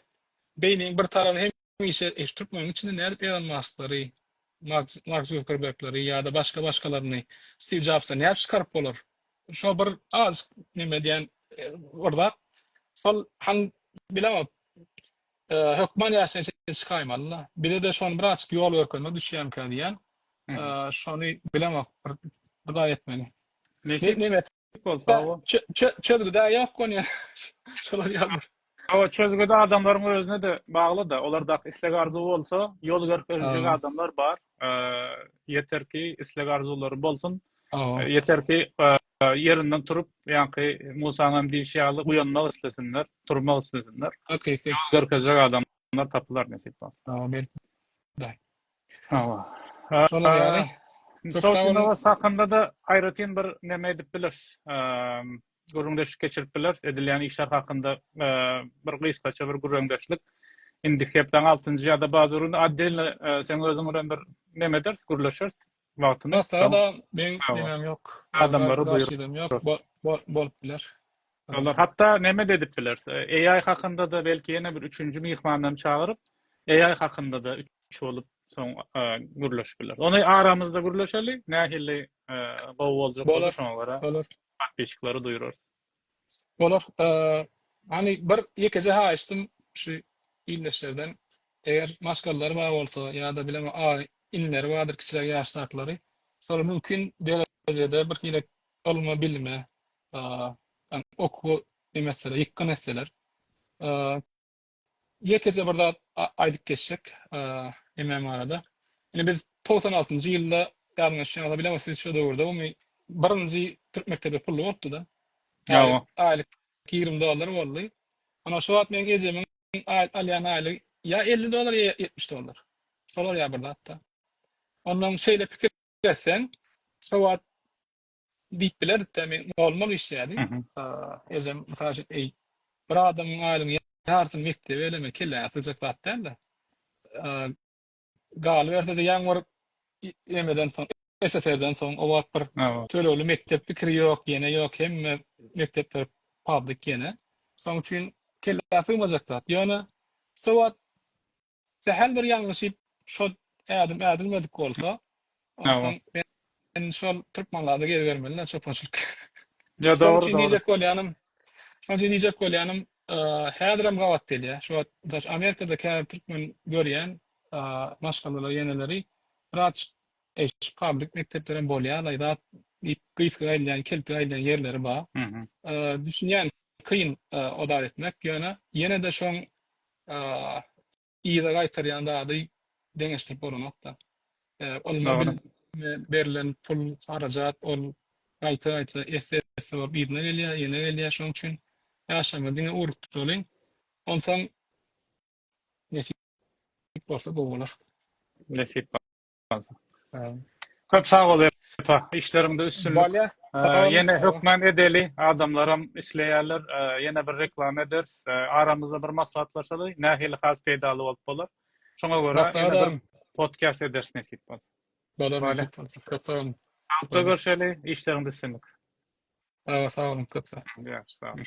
beýniň bir tarapy hem Hemişe şu türkmeniň içinde nädip Elon Masklary, Mark Zuckerbergleri ýa-da başga-başgalaryny, Stiw Jobsy nädip çykaryp bolar? Şo bir azajyk neme edýän bir zat. Şol han bilemok. Hökman ýaşaýan şekil çykaýmaly-la. Bize-de şony bir azajyk ýol görkezme düşýämikä diýýän. Şony bilemok. Bir zat etmeli. Neme etjek? Dik bol, sag bol. Çözgüde yok konya. Şolar ýaldyr. Hawa, çözgüde adamlaryň özüne-de bagly-da. Olar dak isleg arzuw bolsa, ýol görkezjek adamlar bar. Ýeter ki, isleg arzuwlary bolsun. Ýeter ki, ýerinden turup, ýaňky Musaň hem diýşi ýaly uýanmak islesinler, turmak islesinler. Ýol görkezjek adamlar tapylar nesip bolsa. Amin. Hawa. Şolar ýaly. Mysal üçin, Awas hakynda-da aýratyn bir näme edip bileris. Gürrüňdeşlik geçirip bileris. Edilýän işler hakynda bir gysgaça bir gürrüňdeşlik. Indiki hepdäň altynjy ýa-da bazar güni otdelny seň özüň bilen bir näme ederis, gürleşeris. Wagtyny. Maslahat-a meň nemem ýok. Adamlary buýrup. Bolup biler. Olar hatda näme-de edip biler. AI hakynda-da belki ýene bir üçünji myhmandan çagyryp, AI hakynda-da üç bolup soň gürleşip biler. Ony aramyzda gürleşeli, nähili gowy boljak bolsa şoňa görä. Bolar. Patbiçiklere duýurarys. Bolar. Hany bir ýekeje haýyştym şu ildeşlerden. Eger maşgallar bar bolsa ýa-da bilemok AI inleri bardyr kiçiräk ýaşdakylary. Şolar mümkin derejede birhili ylma-bilime Ýa-da okuw iýmezseler, ýykgyn etseler. Ýekeje bir zat aýdyp geçjek MM barada. Ine biz togsan altynjy ýylda ýadyňyza düşýändir, bilemok siz şo döwürde umumy birinji türk mekdebi pully bolupdy-da. Aýlyk, aýlyk ýigrimi dollar boldy. Ine şo wagt meniň ejemiň alýan aýlygy ýa elli dollar, ýa ýetmiş dollar. Şolar ýa bir zat-da. Onnoň şeýle pikir etseň, şo wagt Diýip bilerik-dä, men goluma işlärdi. Ejem, mysal üçin, eý, bir adamyň aýlygynyň ýarysyny mekdebe eleme, kelläňe sygjak zat däl-de. Galyberse-de, ýaňy bir emeden soň, SSR-den soň, o wagt bir tölegli mekdep pikiri ýok, ýene ýok, hemme mekdepler pablyk ýene. Şonuň üçin kelläňe sygmajak zat. Ýöne şo wagt Sähel bir ýalňyşyp şol ädim ädilmedik bolsa, onsoň men şol türkmenlerde gezibermeli-dä çopançylyk. Ýa dogry, dogry. Şonuň üçin diýjek bolýanym, şonuň üçin diýjek bolýanym, häzirem gabat gelýär. Şu wagt, mysal üçin, Amerikada käbir türkmen görýän maşgalalar, ýeneleri biraz eşik, pabrik, mekdeplerem bolýar-laý zat diýip, gysga gaýylýan, kelte gaýylýan ýerleri bar. Düşünýän, kyn o zat etmek, ýöne ýene-de şoň yza gaýtarýan zady deňeşdirip bolanok-da. Ylma berlen pul, harajat, ol gaýta-gaýta, esse-esse bolup yzyna gelýär, ýene gelýär. Şonuň üçin ýaşaýma, diňe ugrukdyralyň. Onsoň nesip bolsa gowy bolar. Nesip Köp sag bol Epa. Işleriňde üstünlik. Ýene hökman edeli. Adamlaram isleýärler. Ýene bir reklama ederis. Aramyzda bir maslahatlaşaly. Nähili has peýdaly bolup bolar. Şoňa görä podcast ederis nesip bolsa. Bolar nesip bolsa. Köp sag boluň. Salykda görşeli. Işleriňde üstünlik. Sag boluň. Köp sag boluň.